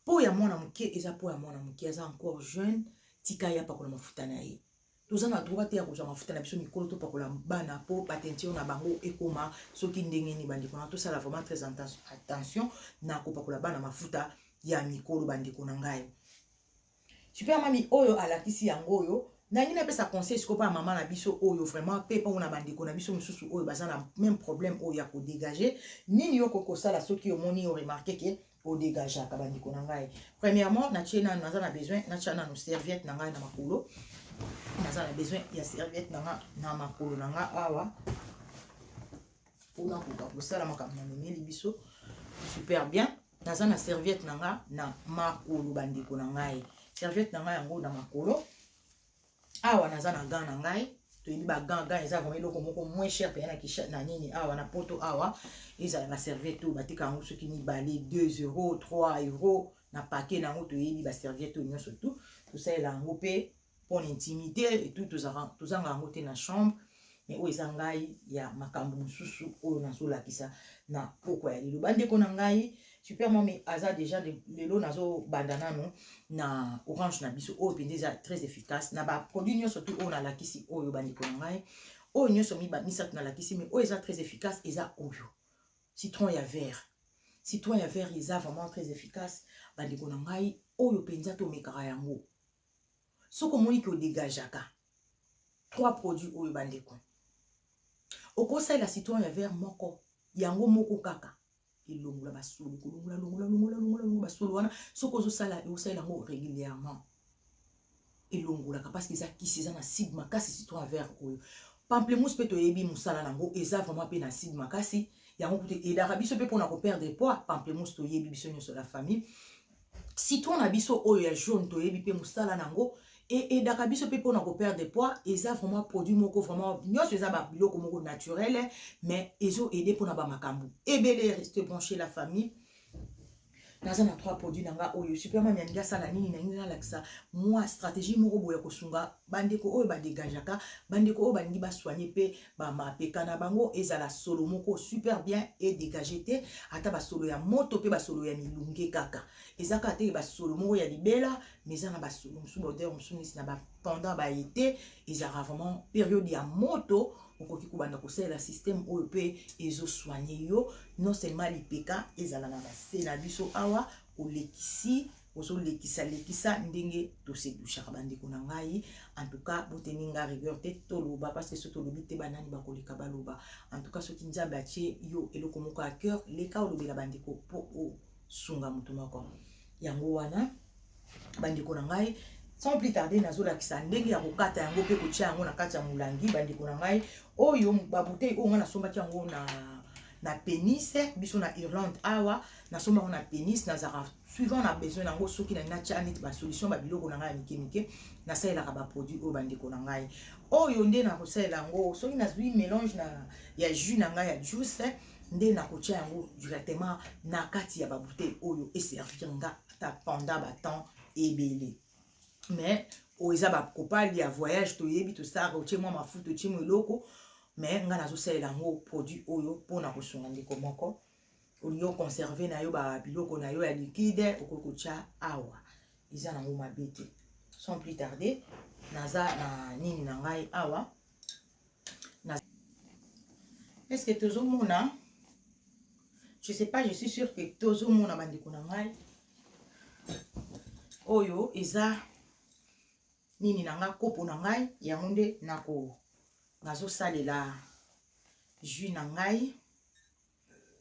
po ya mwana moke eza po ya mwana moke aza encore jeune tika ye apakola mafuta na ye toza na droit te ya kozwa mafuta na biso mikolo topakola bana po bateinture na bango ekoma soki ndenge nini bandeko na tosala vraiment très attention na kopakola bana mafuta ya mikolo bandeko na ngai Super mamy oyo alakisi yango oyo nalingi napesa conseil sikoyo pona maman na biso oyo vraiment pe pona ba ndeko na biso mususu oyo baza na meme problème oyo ya ko degager nini yo okoki kosala soki omoni o remarquer que o degageaka ba ndeko na ngai premièrement na tie nanu naza na besoin na tia nanu serviette na ngai na makolo naza na besoin ya serviette na nga na makolo na nga awa pona koka kosala makambo na memeli biso super bien Naza na serviette na nga na makolo bandeko na ngai. Serviette na nga yango na makolo. Awa naza na gant na ngai. toyebi bagant gant eza vraimen eloko moko moins cher mpenza na kisha na nini awa na poto awa ezala baserviete oyo bateka yango soki mibale 2 euro 3 euro na pake na yango toyebi baserviete oyo nyonso tu tosalela yango mpe pona intimite et tout tozanga yango te na chambre mais oyo eza ngai ya makambo mosusu oyo nazolakisa na pokwa ya lelo bandeko na ngai super mami aza deja lelo nazobanda nano na orange na biso oyo mpenza eza très efficace na baproduit nyonso tu oyo nalakisi oyo bandeko na ngai oyo nyonso misato nalakisi mais oyo eza très efficace eza oyo citron ya vert citron ya vert eza vraiment très efficace bandeko na ngai oyo mpenza tomekaka yango soki omoni ke odegajaka trois produits oyo bandeko okosalela citron ya vert moko yango moko kaka elongola basolo kolongola longola longola longola longola basolo wana soki ozosala osalela yango régulièrement elongolaka parce que eza kisi eza na acide makasi citron ya vert oyo pamplemousse mpe toyebi mosala na yango eza vraiment mpe na acide makasi yango kutu edaka biso mpe mpona koperdre poids pamplemousse toyebi biso nyonso la famille citron na biso oyo ya jaune toyebi pe musala na yango e aidaka biso pe pona ko perdre poids eza vraiment produit moko vraiment nionso eza ba biloko moko naturel mais ezo aider pona ba makambu ebele reste branche la famille naza na trois produits na nga oyo superman alingi asala nini na nini nalakisa mwa strategie moko boye ya kosunga Bandeko oyo ba degageaka, bandeko oyo balingi ba soigner pe ba mapeka na bango ezala solo moko super bien e degager te, ata ba solo ya moto pe ba solo ya milunge kaka. Eza kaka te ke ba solo moko ya libela, mais eza na ba solo mosusu, ba odeurs mosusu neti na ba pendant ba ete, ezalaka vraiment periode ya moto, okoki kobanda kosalela systeme oyo pe ezo soigner yo, non seulement lipeka ezala na ba se na biso awa, olekisi. Ozo lekisa lekisa ndenge to se douchaka ba ndeko na ngai en tout cas bo tenir nga rigueur te to loba parce que soki to lobi te ba nani ba ko leka ba loba en tout cas soki nzambe a tie yo eloko moko ya coeur leka olobela ba ndeko po o sunga mutu moko yango wana ba ndeko na ngai sans plus tarder nazolakisa ndenge ya kokata yango mpe kotya yango na kati ya molangi bandeko na ngai oyo babutei oyo ngai nasombaki yango na na penis biso na irlande awa nasomba yango na penis nazalaka Suivant na besoin na yango soki na lingi natia neti ba solution ba biloko na ngai ya mike mike na salelaka ba produit oyo ba ndeko na ngai oyo nde na kosalela yango soki nazui melange na ya jus na ngai ya juice nde na kotia yango directement na kati ya ba bouteille oyo e servir nga ata pendant ba temps ebele mais oyo eza ba kopali ya voyage toyebi tosalaka otie mwa mafuta otie mwa eloko mais nga nazosalela yango produit oyo mpona kosunga ndeko moko olingi oconserve na yo babiloko na yo ya liquide okoki kotya awa eza nango mabe te sans plus tarde naza na nini na ngai awa na... eske tozomona je sais pas je suis sûr que tozomona bandeko na ngai oyo eza nini na ngai kopo na ngai yango nde nako nazosalela jus na ngai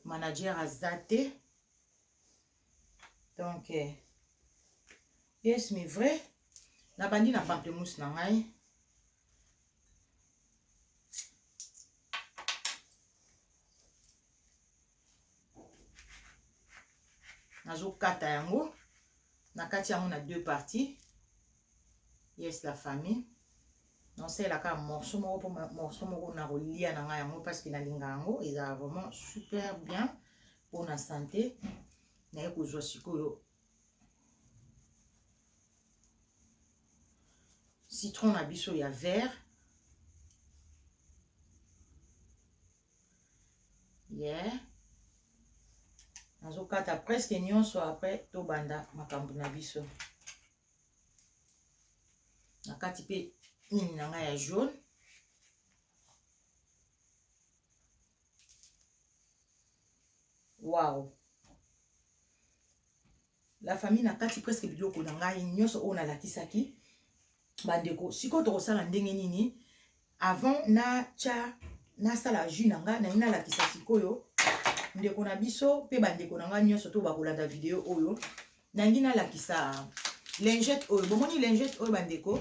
Manager aza te. Donc, eh, yes, mais vrai. Nabandi na pamplemousse na ngai. nazokata yango nakati yango na deux parties Yes la famille. Non c'est la ka morceau moko po morceau moko na kolia na nga yango parce que na linga yango eza vraiment super bien pour na santé. Na ye kozwa sikoyo citron na biso ya vert yeah. nazokata presque nyonso après tobanda makambo na biso na kati pe mini na ngai ya jaune waw la famille na kati presque biloko na ngai nyonso oyo nalakisaki bandeko sikoyo tokosala ndenge nini Avant na tia na sala jus na nga naina lakisa sikoyo ndeko na biso pe ba ndeko na nga nionso to bakolanda video oyo nangi na lakisa lingette oyo bomoni lingette oyo ba ndeko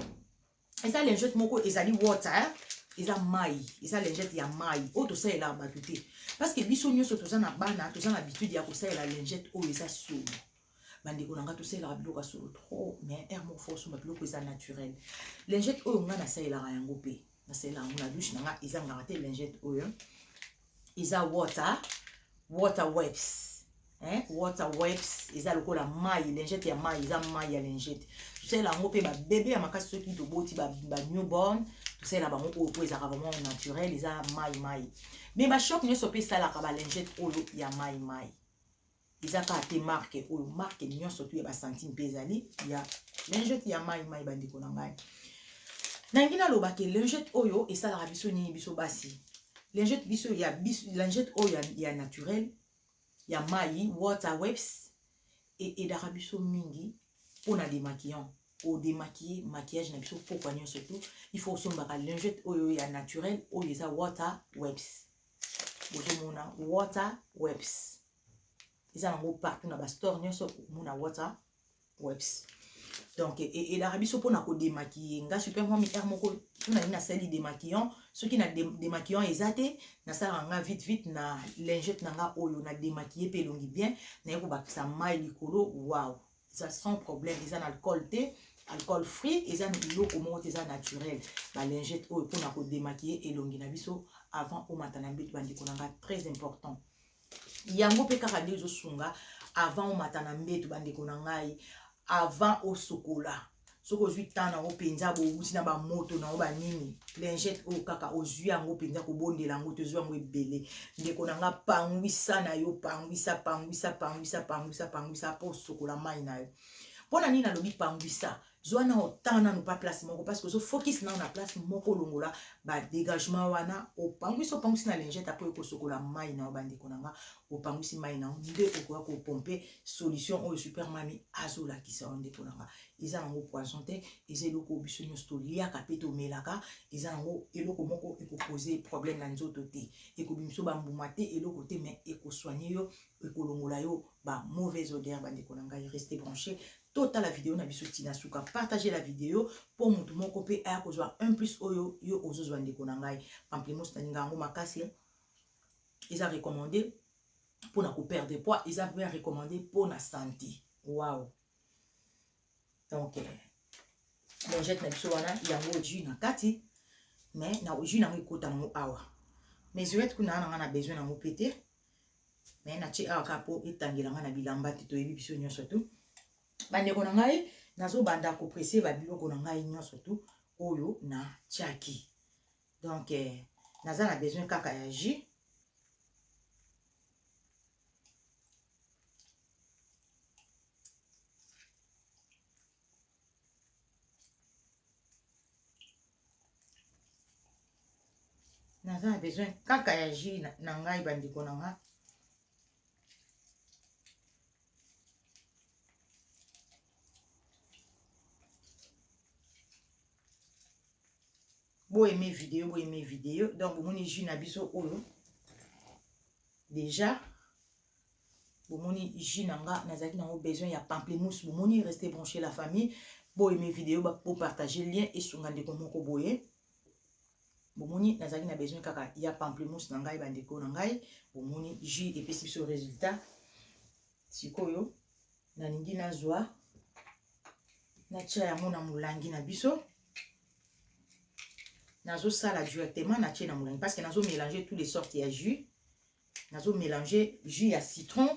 eza lingette moko ezali water hein? eza mai eza lingette ya mai oyo tosalelaka bato te parce que biso nyonso toza na bana toza na habitude ya kosalela lingette oyo eza solo ba ndeko na nga tosalelaka biloko ya solo trop mais heure moko fo osomba biloko eza naturel lingette oyo nga nasalelaka yango mpe nasalelaka yango na douche na nga ezangaka te lingette oyo eza water water webs hein? water webs eza lokola mai lingette ya mai eza mai ya lingette tosalela yango mpe babebe ya makasi soki toboti banewborn ba tosalela bango oyo mpo ezalaka vraiment naturel eza mai mai mais bashop nyonso mpe esalaka balingette oyo ya mai mai Eza kaka te marque oyo, marque nionso tout ya ba centimes pe ezali ya lingette ya mayi mayi ba ndeko na ngai. Nalingi naloba ke lingette oyo esalaka biso nini biso basi? Lingette biso ya biso lingette oyo ya, ya naturel ya mayi water wipes e aidaka biso mingi pona demaquillant o demaquiller maquillage na biso pokwa nionso tout il faut osombaka lingette oyo ya naturel oyo eza water wipes. bozomona water webs eza nango partout na bastore nyonso okomona water webs donc e, e, elaka biso mpona kodemakiye nga super mami r moko tunani nasali demaquillon soki na demaquillon eza te nasalaka nga vite vite na lingete na nga oyo na demakiye mpe elongi bien naye kobakisa mai likolo wow eza sans problème eza na alcool te alcool free eza na biloko moko te eza naturel balingete oyo mpona kodemakiye elongi na biso avant omata na mbetu bandeko na nga très important yango mpe kaka nde ezosunga avant omata na mbetu bandeko na ngai avant osokola soki ozwi temps nango mpenza bouti na bamoto nango banini lingete oyo kaka ozwi yango mpenza kobondela yango tozwi yango ebele ndeko na nga pangwisa na yo pangwisa pangwisa pangwisa pangwisa pangwisa mpo osokola mai na yo mpo na nini nalobi pangwisa zwa nao temps nano pa place moko parce que ozo focus nao na place moko olongola badégagement wana opangwisi opangwisi na lingete apo ekosokola mai na yo bandeko na nga Opangusi mayi na yo nde okoya ko pompe solution oyo super mamy azo lakisa yo ndeko na nga. Eza na ngo poison te, eza eloko oyo biso nionso to liaka pe to melaka, eza na ngo eloko moko eko poser problème na nzoto te, eko bimisa yo ba mbuma te, eloko te mais eko soigner yo, eko longola yo ba mauvaises odeurs ba ndeko na ngai. Restez branches to tala video na biso ti na suka. Partagez la video po mutu moko pe aya ko zwa un plus oyo yo ozo zwa ndeko na ngai. Pamplemousse na lingaka yango makasi. eza recommande pona ko perdre poids eza pe recommande pona sante waouh donc euh, longette na biso wana yango jus na kati mais na jus nango ekota nango awa mais zoete kuna na nga na besoin nango mpe te mais natie awa kaka mpo etangela nga na bilamba te toyebi biso nyonso tu bandeko na ngai nazobanda kopresse babiloko na ngai nyonso tu oyo natiaki Donc eh, naza na besoin kaka ya jus. naza na besoin kaka ya jus na, na ngai bandeko na nga bo aime video bo aime video donc bomoni jus na biso oyo déjà bomoni jus na nga nazalaki nango besoin ya pamplemousse bomoni reste branche la famille bo aime video bopartage lien esunga ndeko moko boye bomoni nazalaki na besoin kaka ya pamplemousse na ngai bandeko na ngai bomoni jus epesi biso résultat sikoyo Nalingi nazwa natia yango na molangi na biso nazosala directement natie na molangi parce que nazo mélanger tous les sortes ya jus nazo mélanger jus ya citron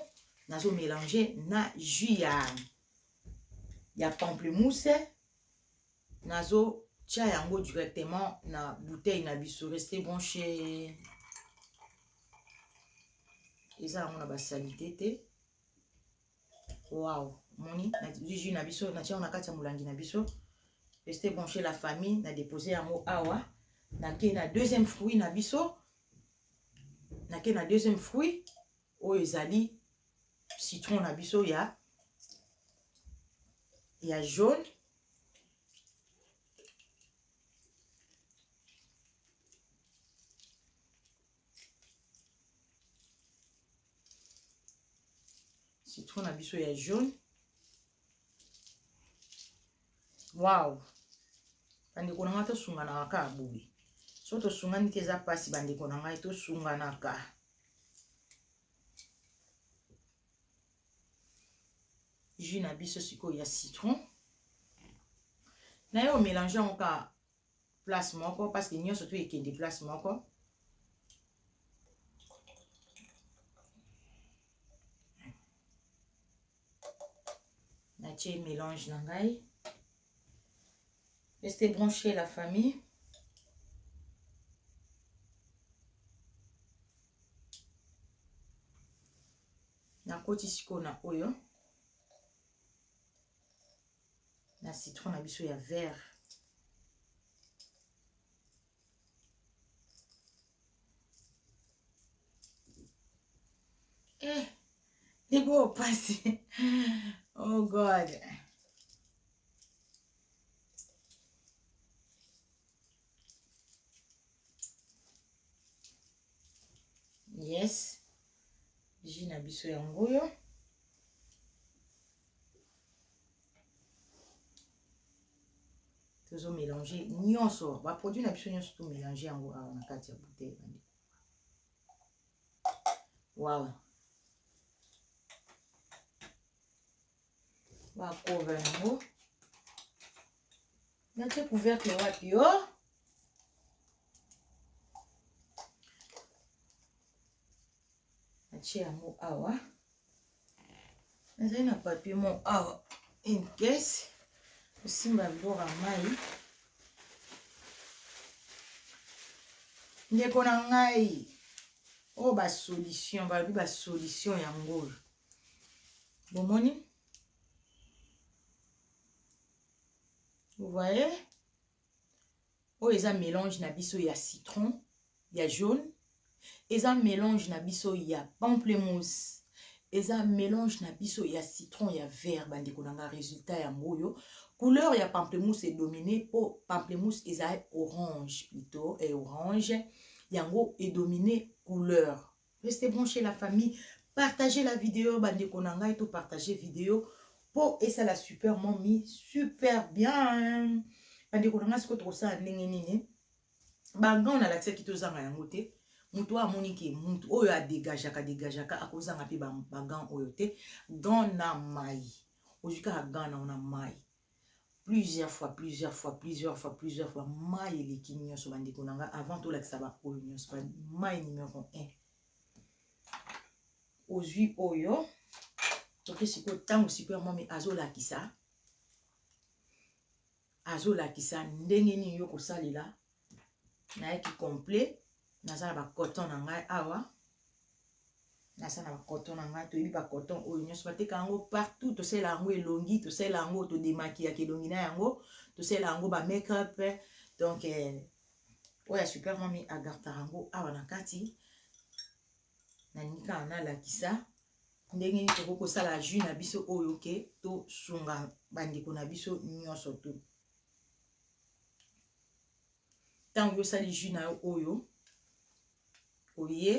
nazo mélanger na jus ya ya pamplemousse nazo tia yango directement na bouteille na biso reste branché eza yango na basalite te Wow, moni na jus na biso na tiango na kati ya molangi na biso. Restez branché la famille na déposer yango awa. Na ke na deuxième fruit na biso. Na ke na deuxième fruit oyo ezali citron na biso ya ya jaune citron na biso ya jaune waw bandeko na ngai tosunganaka kaka boye so tosungani te eza mpasi bandeko na ngai tosunganaka jus na biso sikoyo ya citron naye omélange yango kaka place moko parce que nionso tout ekende place moko natie mélange na ngai reste branché la famille nakoti sikoyo na oyo na citron na biso ya vert eh ndeko pasi oh god yes ji na biso yango oyo tozo mélange nyonso baproduit na biso nyonso tomélange yango awa na kati ya bouteille bande wawa bakoba yango natie couvercle wapi o oh? natie yango awa nazali na papier mo awa une caisse osimba bora mai ndeko na ngai oyo oh, basolution balobi basolution yango oyo bomoni vous voyez oyo eza mélange na biso ya citron ya jaune eza mélange na biso ya pamplemousse eza mélange na biso ya citron ya vert bandeko na nga résultat yango oyo couleur ya pamplemousse edomine mpo pamplemousse eza orange plutôt e orange yango edomine couleur Restez branche la famille partager la video ba ndeko na ngai to partager video po esala super mommy super bien ba ndeko na ngai siko tokosala ndenge nini banga oyo nalakisaki tozanga yango te moto oyo amoni ke moto oyo adegajaka degajaka akozanga mpe bagan oyo te gan na mai ozwi kaka gan na ona mai plusieurs fois plusieurs fois plusieurs fois plusieurs fois mayi eleki nyonso bandeko na ngai avant tolakisa baoyo nyonso mayi numero 1 ozwi oyo toke sikoyo ntango sikoyo ya mwami azolakisa azolakisa ndenge nini yo kosalela nayaki complet naza na bacoton na ngai awa naza na bacoton na ngai toyebi bacoton oyo nyonso bateka yango partout tosala yango elongi tosala yango todemakiyaka elongi na yango tosala yango bamake-up donc eh, oyo ya super mami agartaka yango awa na kati nalingi kaka nalakisa ndenge nini tokoki kosala jus na biso oyo ke tosunga bandeko na biso nyonso tu ntango yosali jus na yo oyo oye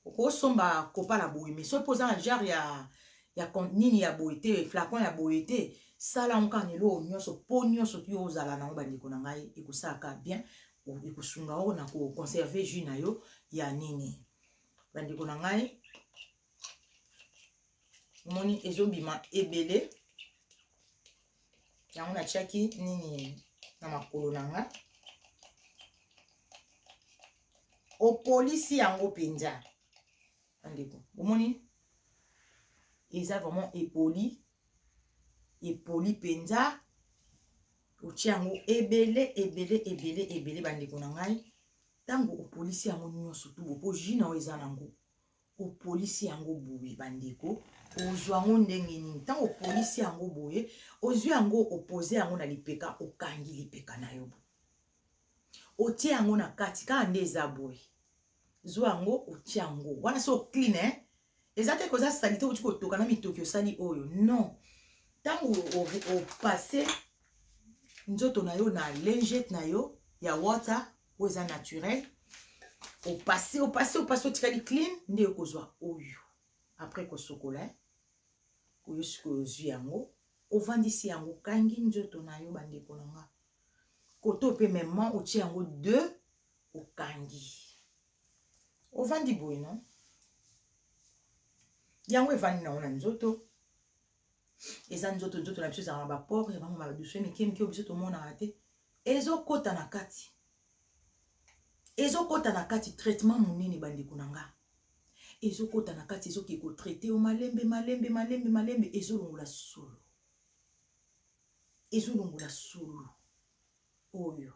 okosomba kopa na boye me soki mpo oza na jare ya ya nini ya boye te flacon ya boye te sala yango kaka na eloko nyonso mpo nyonso ti ozala nango bandeko na ngai ekosalaka bien ekosunga yo na koconserve jus na yo ya nini bandeko na ngai omoni ezobima ebele yango natiaki nini na makolo na nga opolisi yango mpenza bandeko omoni eza vraiment epoli epoli mpenza otie yango ebele ebele ebele ebele bandeko na ngai ntango opolisi yango nyonso tubo mpo jus na yango eza na yango Opolisi yango boye ba ndeko ozua ngo ndenge nini tango opolisi yango boye ozui yango opoze yango na lipeka okangi lipeka na yo boye otie yango na kati kaka nde eza boye zua yango otie yango wana so clean eh? eza te koza salite oti kotoka na mitoki osali oyo non ntango opase nzoto na yo na lingete na yo ya water oyo eza naturel opase opase opase otikali clean nde okozwa oyo après kosokola eh? oyo sikoyo ozwi yango ovandisi yango okangi nzoto na yo bandeko na nga koto mpe mema otie yango de okangi ovandi boye no yango evandi nango na nzoto eza nzoto nzoto na biso ezalaka na bapore ya bango maduswe mike mike oyo biso tomonaka te ezokota na kati ezokota na kati traitement monene bandeko na nga ezokota na kati ezoki kotraite yo malembe malembe malembe malembe ezolongola solo ezolongola solo oyo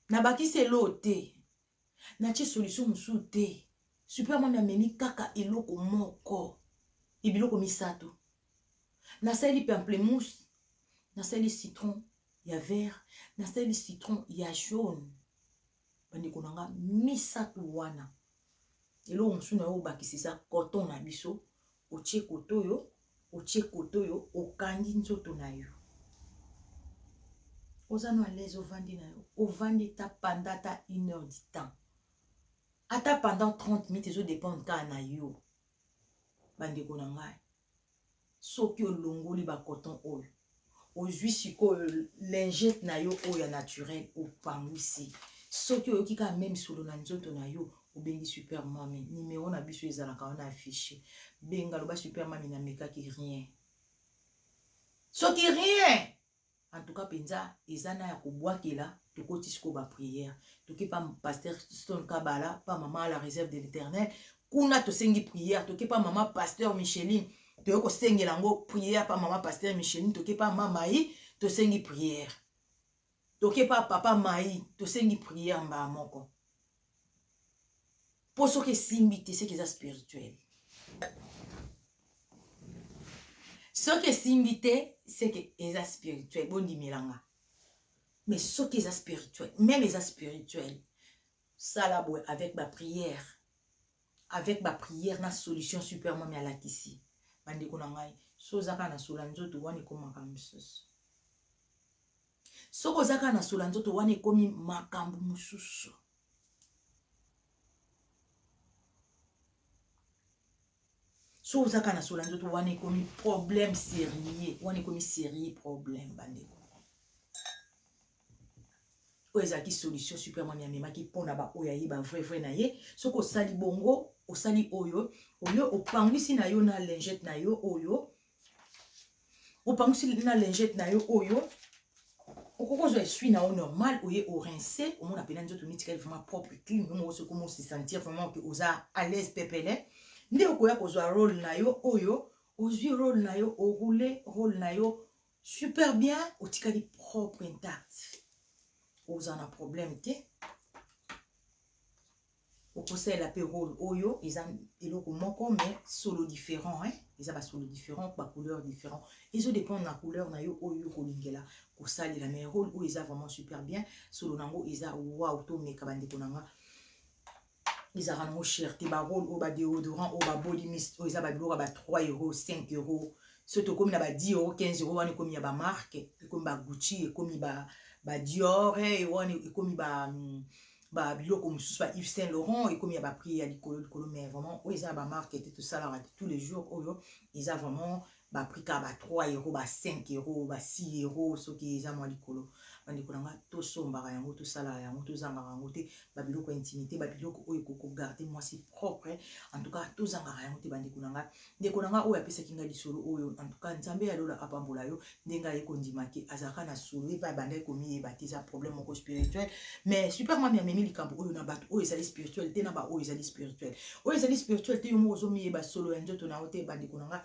nabakisi eloo te Natie solution mosusu te. Super mami amemi kaka eloko moko et biloko misatu. Nasaleli pamplemousse, nasaleli citron ya vert, nasaleli citron ya jaune. Bandeko na nga misatu wana. Eloko mosusu na yo obakisa eza coton na biso Otie cote oyo, otie cote oyo, okangi nzoto na yo. Oza no alaise ovandi na yo. Ovandi ta panda ta une heure du temps. Ata pendant 30 minutes ezo dépendre kaka na yo. Bandeko na ngai. Soki olongoli ba coton oyo. Ozui sikoyo lingette na yo oyo ya naturel opanguisi soki oyoki kaka meme solo na nzoto na yo obengi super mamy numero na biso ezalaka wana affiche benga loba super mamy na mekaki rien soki rien en tout cas mpenza eza na ya kobwakela tokoti sikoyo bapriere toki pa paster stone kabala pa mama la réserve de l'éternel kuna tosengi prière toke pa mama pasteur Micheline toye kosengela yango prière pa mama pasteur Micheline toke pa ma Mayi tosengi prière toke pa papa Mayi tosengi prière mbaa moko po soki esimbi te seke eza spirituel soki esimbi te seke eza spirituel bondimelanga mais soki eza spirituel meme eza spirituel Sala boye avec ba prière avec ba prière na solution super mami alakisi ba ndeko na ngai so oza kaka na sola nzoto wana ekoma makambo mosusu soki oza kaka na sola nzoto wana ekomi makambo mosusu so oza kaka na sola nzoto wana ekomi problème sérieux wana ekomi sérieux problème bandeko Oyo ezalaki solution Super Mami amemaki pona ba oyo ayeba vrai vrai na ye. Soki osali bongo, osali oyo, oyo opanguisi na yo na lingette na yo oyo, opanguisi na lingette na yo oyo, okoki ozwa esui na yo normal, oye o rince, omona pena nzoto mitikali vraiment propre clean, yo moko soki omo se sentir vraiment que oza à l'aise pepele, nde okoya kozwa role na yo oyo, ozwi role na yo, o rouler role na yo, Super bien otikali propre intact oza na problème te okosalela mpe role oyo eza eloko moko mais solo différent hein? eza basolo différent bacouleur différent ezo dépendre na couleur na yo oyo okolingela kosalela mais role oyo eza vraiment super bien solo na yango eza wow tomeka bandeko na nga ezalaka nango cher te ba role oyo ba deodorant oyo ba body mist oyo eza ba biloko ya ba 3 euro 5 euro so tokomi na ba 10 euro 15 euro wana ekomi ya ba marque ekomi ba gucci ekomi ba ba dior eh, e wana ekomi ba mm, ba biloko mosusu ba Yves Saint Laurent ekomi ya ba prix ya likolo likolo mais vraiment oyo eza ya ba marque te tosalaka te tous les jours oyo eza vraiment ba prix kaka ba 3 euro ba 5 euro ba 6 euro soki eza mua likolo ba ndeko na nga to sombaka yango to salaka yango to zangaka yango te ba biloko ya intimite ba biloko oyo ekoki ko garder muasi propre en tout cas to zangaka yango te ba ndeko na nga ndeko na nga oyo apesaki nga lisolo oyo en tout cas nzambe ya lola apambola yo ndenge aye kondima ke azalaka na solo ye pe abandaki komiyeba te eza problème moko spirituel mais super mami amemi likambo oyo na bato oyo ezali spirituel te na ba oyo ezali spirituel oyo ezali spirituel te yo moko ozomiyeba solo ya nzoto na yo te ba ndeko na nga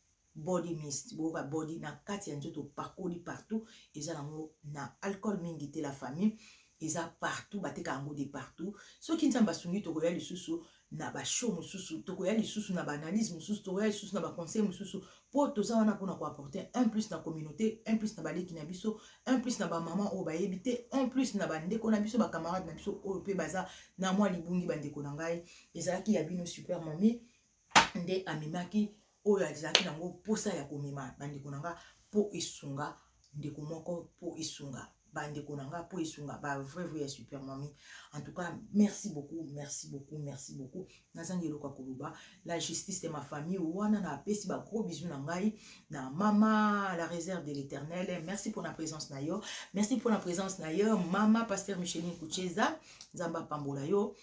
Body mist boyoka body na kati ya nzoto opakoli partout eza na ngo na alcool mingi te la famille eza partout bateka yango de partout soki nzambe asungi tokoya lisusu na ba show mosusu tokoya lisusu na ba analyse mosusu tokoya lisusu na ba conseil mosusu po toza wana pona ko apporter un plus na communauté un plus na baleki na biso un plus na ba maman oyo bayebi te un plus na ba ndeko na biso ba camarade na biso oyo pe baza na mwa libungi ba ndeko na ngai ezalaki ya bino super mamie nde amemaki oyo azalaki na yango mposa ya komema bandeko na nga mpo esunga ndeko moko mpo esunga bandeko na nga mpo esunga ba vrai vrai ya super mami en tout cas merci beaucoup merci beaucoup merci beaucoup nazangi eloko ya koloba la justice de ma famille wana na apesi ba gros bisous na ngai na mama la réserve de l'éternel merci pour na présence na yo merci pour na présence na yo mama pasteur micheline kucheza nzambe apambola yo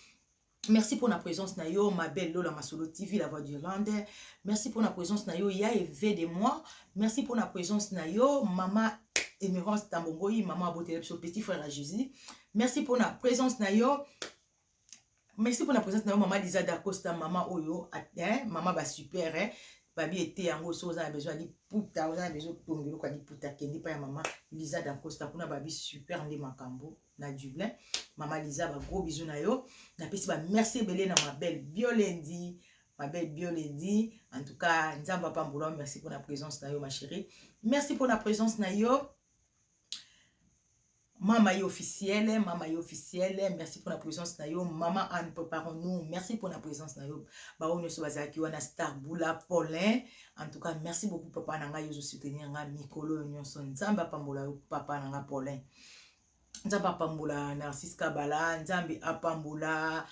Merci pona presence na yo ma belle Lola Masolo TV la voix d'Irlande. Merci pona presence na yo ya Eve de moi. Merci pona presence na yo mama Emerance Tambongoi, mama abotela biso petit frère à Jésus. Merci pona presence na yo. Merci pona presence na yo mama Lisa Dacosta, mama oyo, hein, mama ba super hein. babi ete yango soki oza na besoin ya liputa oza na besoin otonga eloko ya liputa kende epai ya mama liza dacosta kuna babi super nde makambo na Dublin mama Liza ba gros bisous na yo napesi ba merci ebele na ma belle Biolendi ma belle Biolendi en tout cas nzambe apambola merci mpona présence na yo ma chérie merci mpona présence na yo mama ye officiele mama ye officiele merci mpona présence na yo mama anne préparons nous merci mpona présence na yo baoyo nyonso bazalaki wana star bula paulin en tout cas merci beaucoup papa na ngai ozo soutenir ngai mikolo oyo nyonso nzambe apambola yo papa na ngai paulin nzambe apambola narcise kabala nzambe apambola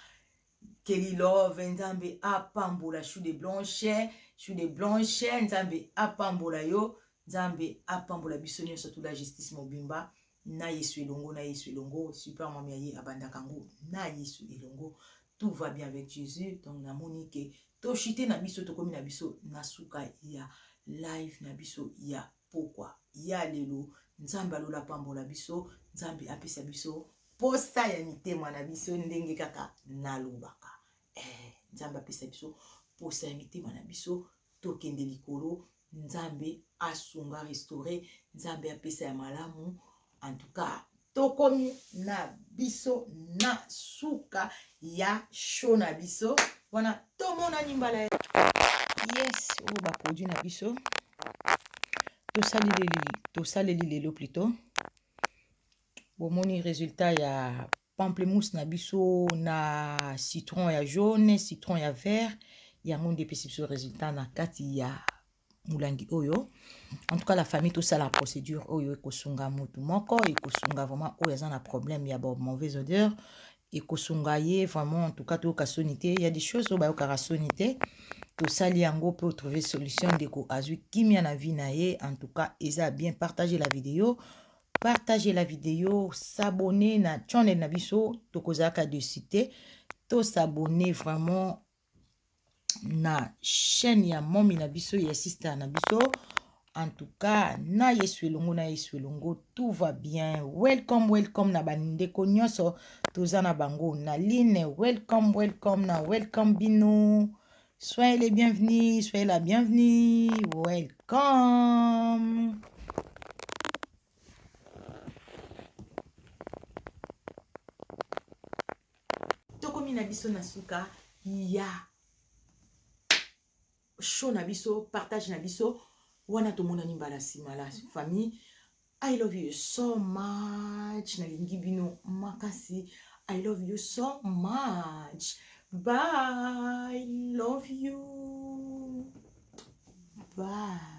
kelly love nzambe apambola chou de blanche chou de blanche nzambe apambola yo nzambe apambola biso nyonso tula justice mobimba na yesu elongo na yesu elongo super mami ya ye abandaka yango na yesu elongo tout va bien avec jésus donc namoni ke toshite na biso tokomi na biso na suka ya live na biso ya pokwa ya lelo nzambe ya lola apambola biso nzambe apesa biso posa ya mitema na biso ndenge kaka nalobaka eh, nzambe apesa biso posa ya mitema na biso tokende likolo nzambe asunga restaure nzambe apesa ya malamu En tout cas, tokomi na biso na suka ya show na biso. Wana tomonani mbala ya yes oyo oh, baproduit na biso tosaleli lelo plutôt bomoni résultat ya Pamplemousse na biso na citron ya jaune, citron ya vert, yango nde epesi biso resultat na kati ya mulangi oyo. En tout cas la famille tosala procédure oyo ekosunga mutu moko, ekosunga vraiment oyo aza na problème ya ba mauvais odeur, ekosunga ye vraiment en tout cas toyoka soni te. Il y a des choses oyo bayokaka soni te. Tosali yango mpe otrouve solution, ndeko azwi kimia na vie na ye. En tout cas eza bien, partager la video Partager la video s'abonner na channel na biso tokozalaka dessus te to s'abonner vraiment na chaîne ya momi na biso ya sister na biso en tout cas na yesu elongo na yesu elongo tout va bien welcome welcome na bandeko nyonso toza na bango na line welcome welcome na welcome bino Soyez les bienvenus, soyez la bienvenue. Welcome. Tokomi na biso na suka ya show na biso, partage na biso. Wana tomonani mbala nsima la famille. I love you so much nalingi bino makasi I love you so much bye love you bye